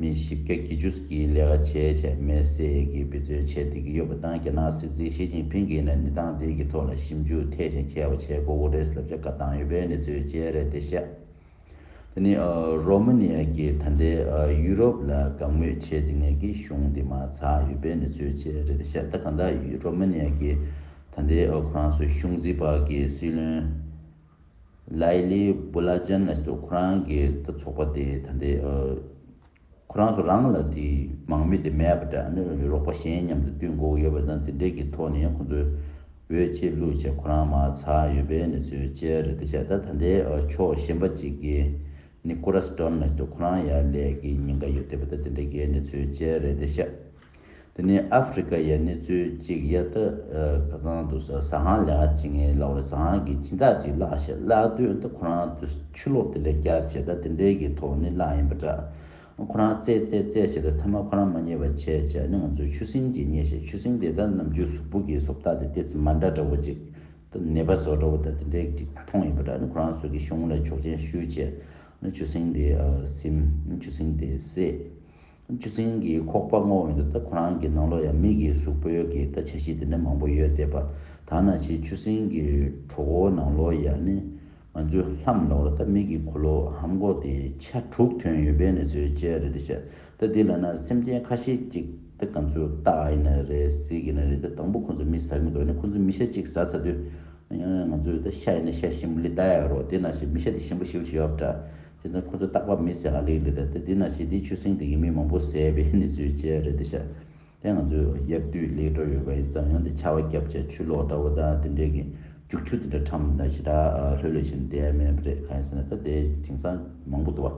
མི་བཞི་བརྒྱ་བརྒྱད་ཅུ་གྱིས་ལས་ཀ་བྱས་བྱས་མེད་ཟེར་གྱིས་འབད་རྩོལ་བྱས་བསྡད་ཀྱི་ཡོད་པ་དང་རྒྱ་ནག་སྲིད་འཛིན་ཞི་ཅིན་ཕིན་གྱིས་ནས་ནི་སྟངས་འདིའི་གྱི་ཐོག་ལ་ཞིབ་འཇུག་ཐད་ཅིང་ཆེ་བ་བྱས་གོ་འོ་རེས་ལབ་བྱ་དགའ་བཏང་ཡོད་པའི་གནས་ཚུལ་བཅས་རེད་དེ་བཤད། དེ་ནི་རོ་མ་ནི་ཡ་གྱི་ད་ལྟའི་ཡུ་རོབ་ལ་དགའ་མོས་བྱས་ཏེ་ངས་གི་གཞུང་འདི་མ་ཚགས་ཡོད་པའི་གནས་ཚུལ་བཅས་རེད་དེ་བཤད་ད་གང་ལྟར་རོ་མ་ནི་ཡ་གྱི་ད་ལྟའི་ཁོ་རང་ཚོའི་གཞུང་འཛིན་པ་གྱི་སྲིད་བློན། ལའི་ལི་སྦུ་ལ་ཅན་ཨེས་ཏོ་ཁོ་རང་གི་ཏུ་ཚོགས་པ་དེ་ད་ལྟའི་ཁོ་རང་ཚོ་རང་ལ་དེ་མང་མི་དེ་མེད་པ་འདྲ་ཨ་ནི་རོགས་པ་གཞན་མཉམ་དུ་བསྟུན་འགོ་ཡོད་པ་དང་དེ་འདྲའི་གི་ཐོག་ནས་ཁོ་ཚོའི་འོད་ཆེས་ལུས་ཆེས་ཁོ་རང་མ་ཚ་ཡོད་པའི་ནི་ཚོའི་བཅས་རེད་དེ་བྱས་ད་ད་ལྟའི་ཕྱོགས་གཞན་པ་ཅིག་གི་ནི་ཀུ་ར་སི་ཏོན་ཨེས་ཏོ་ཁོ་རང་ཡར་ལས་གི་ཉིན་འགའ་ཡོད་དེ་པ་ད་དེ་འདྲའི་གི་ནི་ཚོའི་བཅས་རེད་དེ་བྱས། དེ་ནས་ཨ་ཧྥེ་རི་ཁ་ཡའི་གནས་ཚུལ་གཅིག་ཡལ་ཏི་ཁ་ཚང་དུ་ཟ་ཧང་ལེ་ཧ་བྱེད་ངེས་ལབ་བར་ཟ་ཧང་གིས་སྦྱིན་བདག་ཅིག་བརླགས་ཞེས་བརླགས་དུས་ཏི་ཁོ་རང་དུ་ཆུ་ལོག་དེ་ལས་རྒྱ་ཆེ་ད་དེ་འདྲའི་གི་ཐོག་ནི་བརླགས་ཡིན་པ་འདྲ། ཁོ་རང་བཙལ་བཙལ་བཙལ་བྱས་ཏེ་ཐ་མ་ཁོ་རང་མ་རྙེད་པར་བྱས་བྱས་ནི་ང་ཚོའི་ཆུ་སྲིན་གྱིས་རྙེད་ཞེས་ཆུ་སྲིན་དེ་ད་ནམ་རྒྱུད་གཟུགས་པོ་གི་སོབ་ལྟ་དེ་ཏི་ཙི་མ་འདྲ་འདྲ་བོ་ཅིག་ད་ནད་པ་ཟོ་འདྲ་བོ་ད་དེ་འདྲའི་གི་ཅིག་མཐོང་ཡོད་པ་འདྲ་ནི་ཁོ་རང་ཟོས་ཀི་ཤོང་ལ་ཆོག་མཆན་ཞུས་བྱས་ནི་ཆུ་སྲིན་དེ་སིམ་ཆུ་སྲིན་དེ་བསད། ཆུ་རྫིང་གི་ཁོག་པ་སྔོག་འོན་དུ་ད་ཁོ་རང་གི་ནང་ལོགས་ཡང་མིག་གིས་གཟུགས་པོ་ཡོད་གི་ད་བྱ་བྱེད་དེ་འདྲ་མང་པོ་ཡོད་དེ་པ་དག་ན་ཆེ་ཆུ་རྫིང་གི་གྲོག་འོ་ནང་ལོགས་ཡང་ནི་ང་ཚོའི་ལྷམ་ལོགས་ལ་ད་མིག་གིས་གོ་ལོ་ཧམ་གོ་དེ་ཆ་དྲུག་ཐོན་ཡོད་པའི་ནི་ཚོའི་དཔྱད་རེད་དེ་བྱ་ད་དེ་ལ་ན་སེམས་ཅན་ཁ་ཤས་ཅིག་ད་ག་ཚོད་ལྟ་ཨ་ཡིན་ན་རེད་ཟེ་གི་ན་རེད་ད་དང་པོ་ཁོ་ཚོ་མི་ཟ་གི་འདུག་ནི་ཁོ་ཚོ་མི་ཤ་ཅིག་ཟ་ཚ་དུས་ང་ཚོས་ད་ཤ་ཡིན་ན་ཤ་ཞིམ་པོ་ལི་ད་ཡག་རོགས་དེ་ན་ཤ་མི་ཤ་དེ་ཞིམ་པོ་ཤིའུ་ཤིའུ་ཨབ་ཏྲ། དེ་ནི་ཁོ་ཚོས་རྟག་པར་མི་ཟས་ལ་ལེགས་འདི་ལྟ་སྟེ་འདི་ན་ཞི་བདེའི་ཆུ་སྲིན་དེ་ཡིན་མིན་མང་པོ་ཟས་པའི་གནས་ཚུལ་བཅས་རེད་དེ་ཤ་དེ་ང་ཚོས་གཡར་དུས་ལེགས་འགྲོ་ཡོད་པ་ཡིན་ཙང་ཡང་དེ་ཆར་བ་བརྒྱབ་བྱས་ཆུ་ལོག་འདྲ་བོ་དང་དེ་འདྲའི་གི་རྒྱུག་ཆུ་དེ་འདྲ་ཁྲམ་དང་ཞེ་དྲག་ལྷོད་ལྷོད་བཞིན་བསྡད་མེད་པ་རེད་གང་ཡིན་ཟེར་ན་ད་དེ་དེང་སང་མང་པོ་འདུག་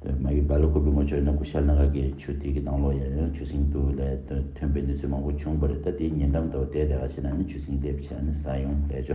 བ། མ་གི་བལ་ལོ་དགུ་པའི་ངོ་ཆོད་ན་དགུ་ཤར་ན་ག་གི་ཆུ་དེ་གི་ནང་ལོག་ཡང་ཡང་ཆུ་སྲིན་དུ་ལས་ཐོན་པའི་གནས་ཚུལ་མང་པོ་བྱུང་བ་རེད་ད་དེའི་ཉེ་འགྲམ་དུ་བ་དེ་དེ་ག་ཞེ་ན་ནི་ཆུ་སྲིན་སླེབས་བྱས་ནི་ཟ་ཡོང་ལས་ཆུ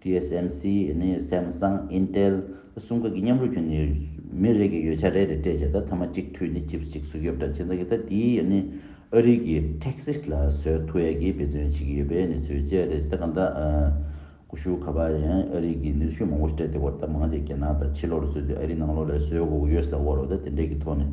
TSMC ནི Samsung། Intel། གསུམ་ཀ་གི་མཉམ་རུབ་ཀྱིས་ནི་མི་རེ་གི་ཡོ་བྱད་རེ་རེ་སྤྲད་རྗེས་ད་ཐ་མ་གཅིག་འཐུས་ནི Chips གཅིག་གཟུགས་དབྱིབས་འདྲ་མཚུངས་ཚང་གི་ད་དེ་ནི་ཨ་རིའི་གི Texas ལ་སོལ་ཐུ་ཡ་གིས་འབད་བརྩོན་བྱེད་ཀྱི་ཡོད་པའི་ནི་ཚུལ་བཅས་རེད་ད་གང་ད་ཀུ་ཤུ་ཁ་བ་ཡང་ཨ་རིའི་གི་ནུས་ཤུགས་མང་པོ་སྤྲད་དེ་སྒོར་ད་མང་བྱས་རྒྱ་ནག་ད་ཕྱི་ལོ་རུ་སོལ་དུས་ཨ་རིའི་ནང་ལོ་ལས་སོལ་གོ་གུ་ཡོད་ས་དབོར་རོ་ད་དེ་འདྲས་གི་ཐོག་ནས།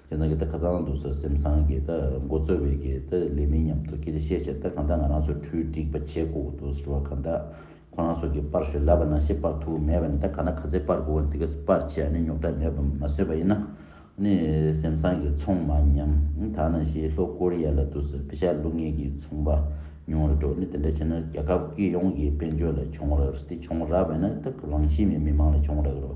ཁྱེད་རང་གིས་ད་ག་ཚ་ན་འདུག་ཟེར་སེམས་བཟང་གི་ད་མགོ་རྩོད་བའི་གི་ད་ལས་མིན་སྙམ་འདུག་ཁྱེད་ཀྱིས་ཤེས་བྱས་ད་གང་ལྟར་ང་རང་ཚོས་འཕྲུལ་སྒྲིག་པ་བྱེད་དགོས་འདུག་ཟེར་བ་གང་ལྟར་ཁོ་རང་ཚོ་གིས་སྤར་ཞོར་ལབ་པ་ན་ཤི་སྤར་ཐུག་གི་མེད་པ་ནི་ད་ག་ན་ག་ཚད་སྤར་དགོས་བ་ནི་འདི་ག་སྤར་བྱས་ཨ་ནི་རྙོག་དྲ་མེད་པ་མ་བཟོས་པ་ཡིན་ན་ནི་སེམས་བཟང་གི་ཚོང་མ་ཉམ་ཐག་ན་ཤི་ལྷོ་ཀོ་རི་ཡ་ལ་འདུག་ཟེར་བི་ཤ་ལུག་ངན་གྱི་ཚོང་པ་ཉུང་རུ་འགྲོ་ནི་དེ་འདྲ་བྱས་ན་རྒྱ་ཁབ་ཀྱི་ཡོངས་ཀྱི་དཔལ་འབྱོར་ལ་གྱོང་རག་རེད་དེ་གྱོང་རག་བས་ན་ད་རང་གཤིས་མེད་མི་མང་ལ་གྱོང་རག་གི་རོ།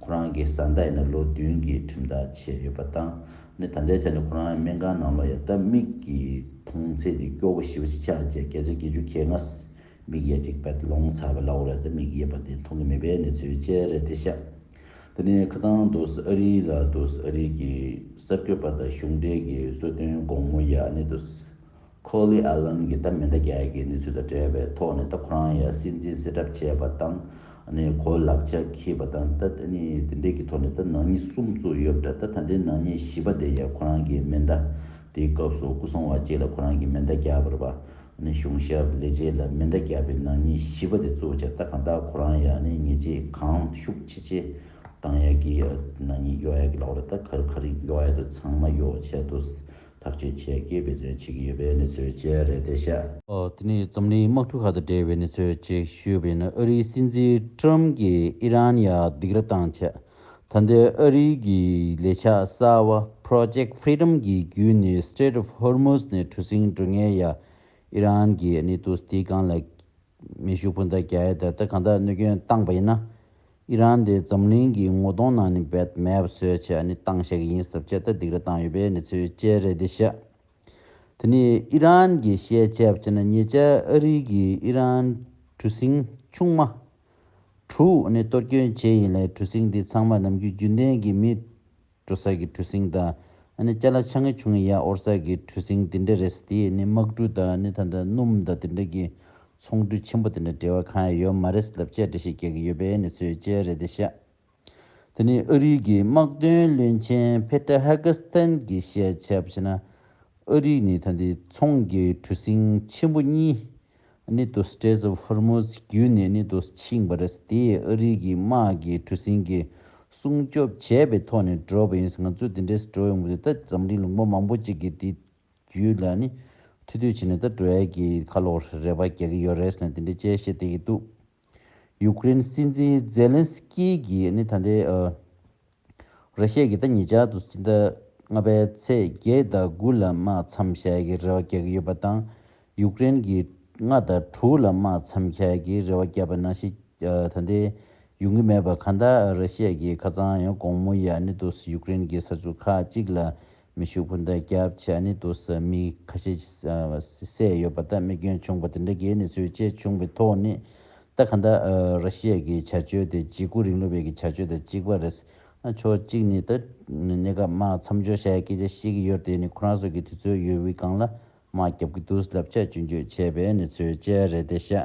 ཁོ་རང་གི་བཟའ་ཟླ་ཡིན་ན་ལོ་བདུན་གྱི་ཁྲིམས་ཐག་བཅད་ཡོད་པ་དང་ནི་ད་ལྟའི་ཆ་ནས་ཁོ་རང་སྨན་ཁང་ནང་ལོག་ཡ་སྟབས་མིག་གི་མཐོང་ཚད་དེ་སྐྱོ་བོ་ཞི་བ་ཆེ་ཆགས་བཅས་བརྒྱ་ཆ་བརྒྱད་ཅུ་ཁའི་ངྷ་མིག་ཡ་གཅིག་བད་ལོང་ཚ་བ་ལའོ་ར་ད་མིག་ཡས་པ་དེ་མཐོང་གི་མེད་པའི་གནས་ཚུལ་བཅས་རེད་དེ་ཤ་ད་ནི་ཁ་ཚང་རྡོ་སི་ཨ་རི་ལ་རྡོ་སི་ཨ་རི་གི་གསར་འགོད་པ་དང་གཞུང་འབྲེལ་གྱི་གསོལ་སྟོན་དགོང་མོ་ཡ་ནི་རྡོ་སི། ཁོ་ལི་ཨ་ལན་གྱིས་ད་མི་འདྲ་རྒྱ་ཡིག་གི་གནས་ཚུལ་དང་འབྲེལ་བའི་ཐོག་ནས་ད་ཁོ་རང་ཡང་སྲིད་འཛིན་སྲིད་གྲབས་བྱས་པ་དང་གོ་ལག་ཆ་ཁྱི་བ་དང་ད་དེ་འདྲའི་གི་ཐོག་ནས་ད་ནག་ཉེས་གསུམ་བཙུགས་ཡོད་འདྲ་ད་ད་འདྲའི་ནག་ཉེས་བཞི་པ་དེ་ཡང་ཁོ་རང་གི་མེ་མདའ་དེའི་སྐབས་སུ་སྐུ་སྲུང་བ་གཅིག་ལ་ཁོ་རང་གི་མེ་མདའ་རྒྱག་པར་བ་གཞུང་ཞབས་ལས་བྱེད་ལ་མེ་མདའ་རྒྱག་པའི་ནག་ཉེས་བཞི་པ་དེ་བཙུགས་ཆ་ད་གང་དག་ཁོ་རང་ཡང་ཉེས་ཆད་གང་ཤུགས་ཆེ་ཆེ་གཏང་ཡག་གི་ནག་ཉེས་གཡོག་ཡག་གི་ལག་འོག་ལ་ད་ག་རེ་ག་རེ་གཡོག་ཡག་དུ་ཚང་མ་གཡོག་ཆད་དུ་ཐག་གཅོད་ཆེད་སྐྱེས་འབད་བརྩོན་བྱེད་ཀྱི་ཡོད་པའི་གནས་ཚུལ་བཅས་རེད་དེ་བཤད། དེ་ནི་འཛམ་གླིང་དམག་འཁྲུག་ཁག་དང་འབྲེལ་བའི་གནས་ཚུལ་ཅེས་ཞུས་པ་ཡིན། ཨ་རིའི་སྲིད་འཛིན Trump གྱིས་ཨི་རན་ཡར་སྡིགས་ར་བཏང་ཆེད་ད་ལྟའི་ཨ་རིའི་གི་ལས་འཆར་གསར་བ Project Freedom གྱི་བརྒྱུད་ནས Strait of Hormuz ནས་གྲུ་གཟིངས་འགྲོ་ངེས་ཡ་ཨི་རན་གྱི་གནས་དུ་སྡིགས་རྐང་ལ་མེ་ཤུགས་སྤུན་ཟླ་རྒྱ་ཡེ་ད་ལྟ་གང་དག་གནོད་སྐྱོན་བཏང་པ་ཡིན་ན། ཨི་རན་དེ་འཛམ་གླིང་གི་ངོ་གདོང་ནང་ནས་བེད་མེད་པ་བཟོས་ཆེད་ནི་བཏང་བཞག་གི་ཡིན་སྟབས་ཆེས་ཐ་དིག་རེ་བཏང་ཡོད་པའི་ནི་ཚུལ་དཔྱད་རེ་འདི་བཤད། དེ་ནི་ཨི་རན་གྱི་ཤེས་བྱས་བྱས་ན་ཉེ་ཆར་ཨ་རིའི་གི་ཨི་རན་གྲུ་གཟིངས་ཆུང་མ། གྲུ། ནི་གཏོར་སྐྱོན་བྱས་ཡིན་ལས་གྲུ་གཟིངས་འདི་ཚང་མ་ནམ་རྒྱུན་རྒྱུན་ལྡན་གྱི་མི་སྤྲོ་སར་གྱི་གྲུ་སིང་དང། སྐྱ་ལ་ཆ་ངེ་ཆུང་ངེ་ཡ་ཨོར་སར་གྱི་གྲུ་སིང་དེ་འདྲ་རེད་ས་དེ་ནི་དམག་གྲུ་དང་ད་ལྟ་སྣུམ་དང་དེ་འདྲ་གྱི་ཚོང་གྲུ་ཆེན་པོ་དེ་འདྲ་འབྲེལ་བ་གང་ཡང་ཡོད་མ་རེད་ས་ལབ་དཔྱད་འདྲ་ཞིག་རྒྱག་གི་ཡོད་པས་ནི་ཚོས་དཔྱད་རེད་དེ་ཤ། དེ་ནི་ཨ་རིའི་གི་དམག་དོན་བློན་ཆེན་བྷེ་ཏྲ་ཧ་གྷ་སི་ཐན་གྱི་བཤད་བྱ་བྱས་ན། ཨ་རིས་ནི་ད་འདི་ཚོང་གི་གྲུ་སིང་ཆེན་པོ་གཉིས། ནི་དུ Straits of Hormuz བརྒྱུད་ནས་ནི་དུ་ཕྱིན་པ་རེད། དེ་ཡིས་ཨ་རིའི་གི་དམག་གི་གྲུ་གཟིངས་གི་སྲུང་སྐྱོབ་བྱས་པའི་ཐོག་ནས་འགྲོ་བ་ཡིན། ང་ཚོས་དེ་འདྲའི་སྒྲོལ་ཡོང་གི་རེད་ད་འཛམ་གླིང་ལུང་པ་མང་པོ་ཅིག་གིས་དེ་བརྒྱུད་ལ་ནི་ཐུ་ཐུ་བྱས་ནས་ད་སྒྲོལ་ཡ་གི་ཁ་ལོ་རེ་བ་རྒྱག་གི་ཡོད་རེད་ཟེར་ནས་དེ་འདྲའི་དཔྱད་གཞི་བཏེགས་ཀྱི་འདུག། ཡུ་ཀེ་རེན་སྲིད་འཛིན་ཛེ་ལན་སི་ཀི་གིས་ནི་ད་ལྟའི་ར་ཤས་ཀྱིས་ད་ཉེ་ཆར་དུ་ཕྱི་ཟླ་ལྔ་པའི་ཚེས་བརྒྱད་ཟླ་དགུ་ལ་དམག་མཚམས་ཞལ་གྱི་རེ་བ་རྒྱག་གི་ཡོད་པ་དང་ཡུ་ཀེ་རེན་གྱིས་ལྔ་དང་དྲུག་ལ་དམག་མཚམས་ཞལ་གྱི་རེ་བ་བརྒྱབ་པ་ན་ཞིག་ད་ལྟའི་ཡོང་གི་མེད་པར་གང་ལྟར་ར་ཤས་ཀྱིས་ཁ་ཚང་ཡང་དགོང་མོ་ཡར་ནི་དུས་སུ་ཡུ་ཀེ་རེན་གྱི་ས་ཆུ་ཁག་གཅིག་ལ་མི་ཕྱུག་པོ་འདི་སྐྱབས་ཆ་ནི་དུ་ས་མི་ཁ་ཤས་ཀྱིས་བསད་ཡོད་པ་ལྟར་དམིགས་སྐྱོན་བྱུང་པ་དེ་འདྲ་གས་ནི་ཚུལ་དཔྱད་བྱུང་པའི་ཐོག་ནས་ད་ག་འདྲ་ར་ཤི་ཡ་གི་བྱ་སྤྱོད་དེ་འཇིགས་སྐུ་རིང་ལུགས་བས་ཀྱི་བྱ་སྤྱོད་དང་གཅིག་པ་རེད། ཕྱོགས་གཅིག་ནས་ད་གནས་སྐབས་དམག་མཚམས་འཇོག་བྱ་ཡ་སྐད་ཆ་ཤེས་ཀྱི་ཡོད་དེ་ནི་ཁོ་རང་ཚོ་གི་དུས་ཚོད་ཡོལ་བུའི་སྒང་ལ་དམག་བརྒྱབ་ཀྱི་འདུག་ལབ་ཆ་གཅུན་གཅོད་བྱས་པས་ནི་ཚུལ་དཔྱད་རེད་དེ་ཤ།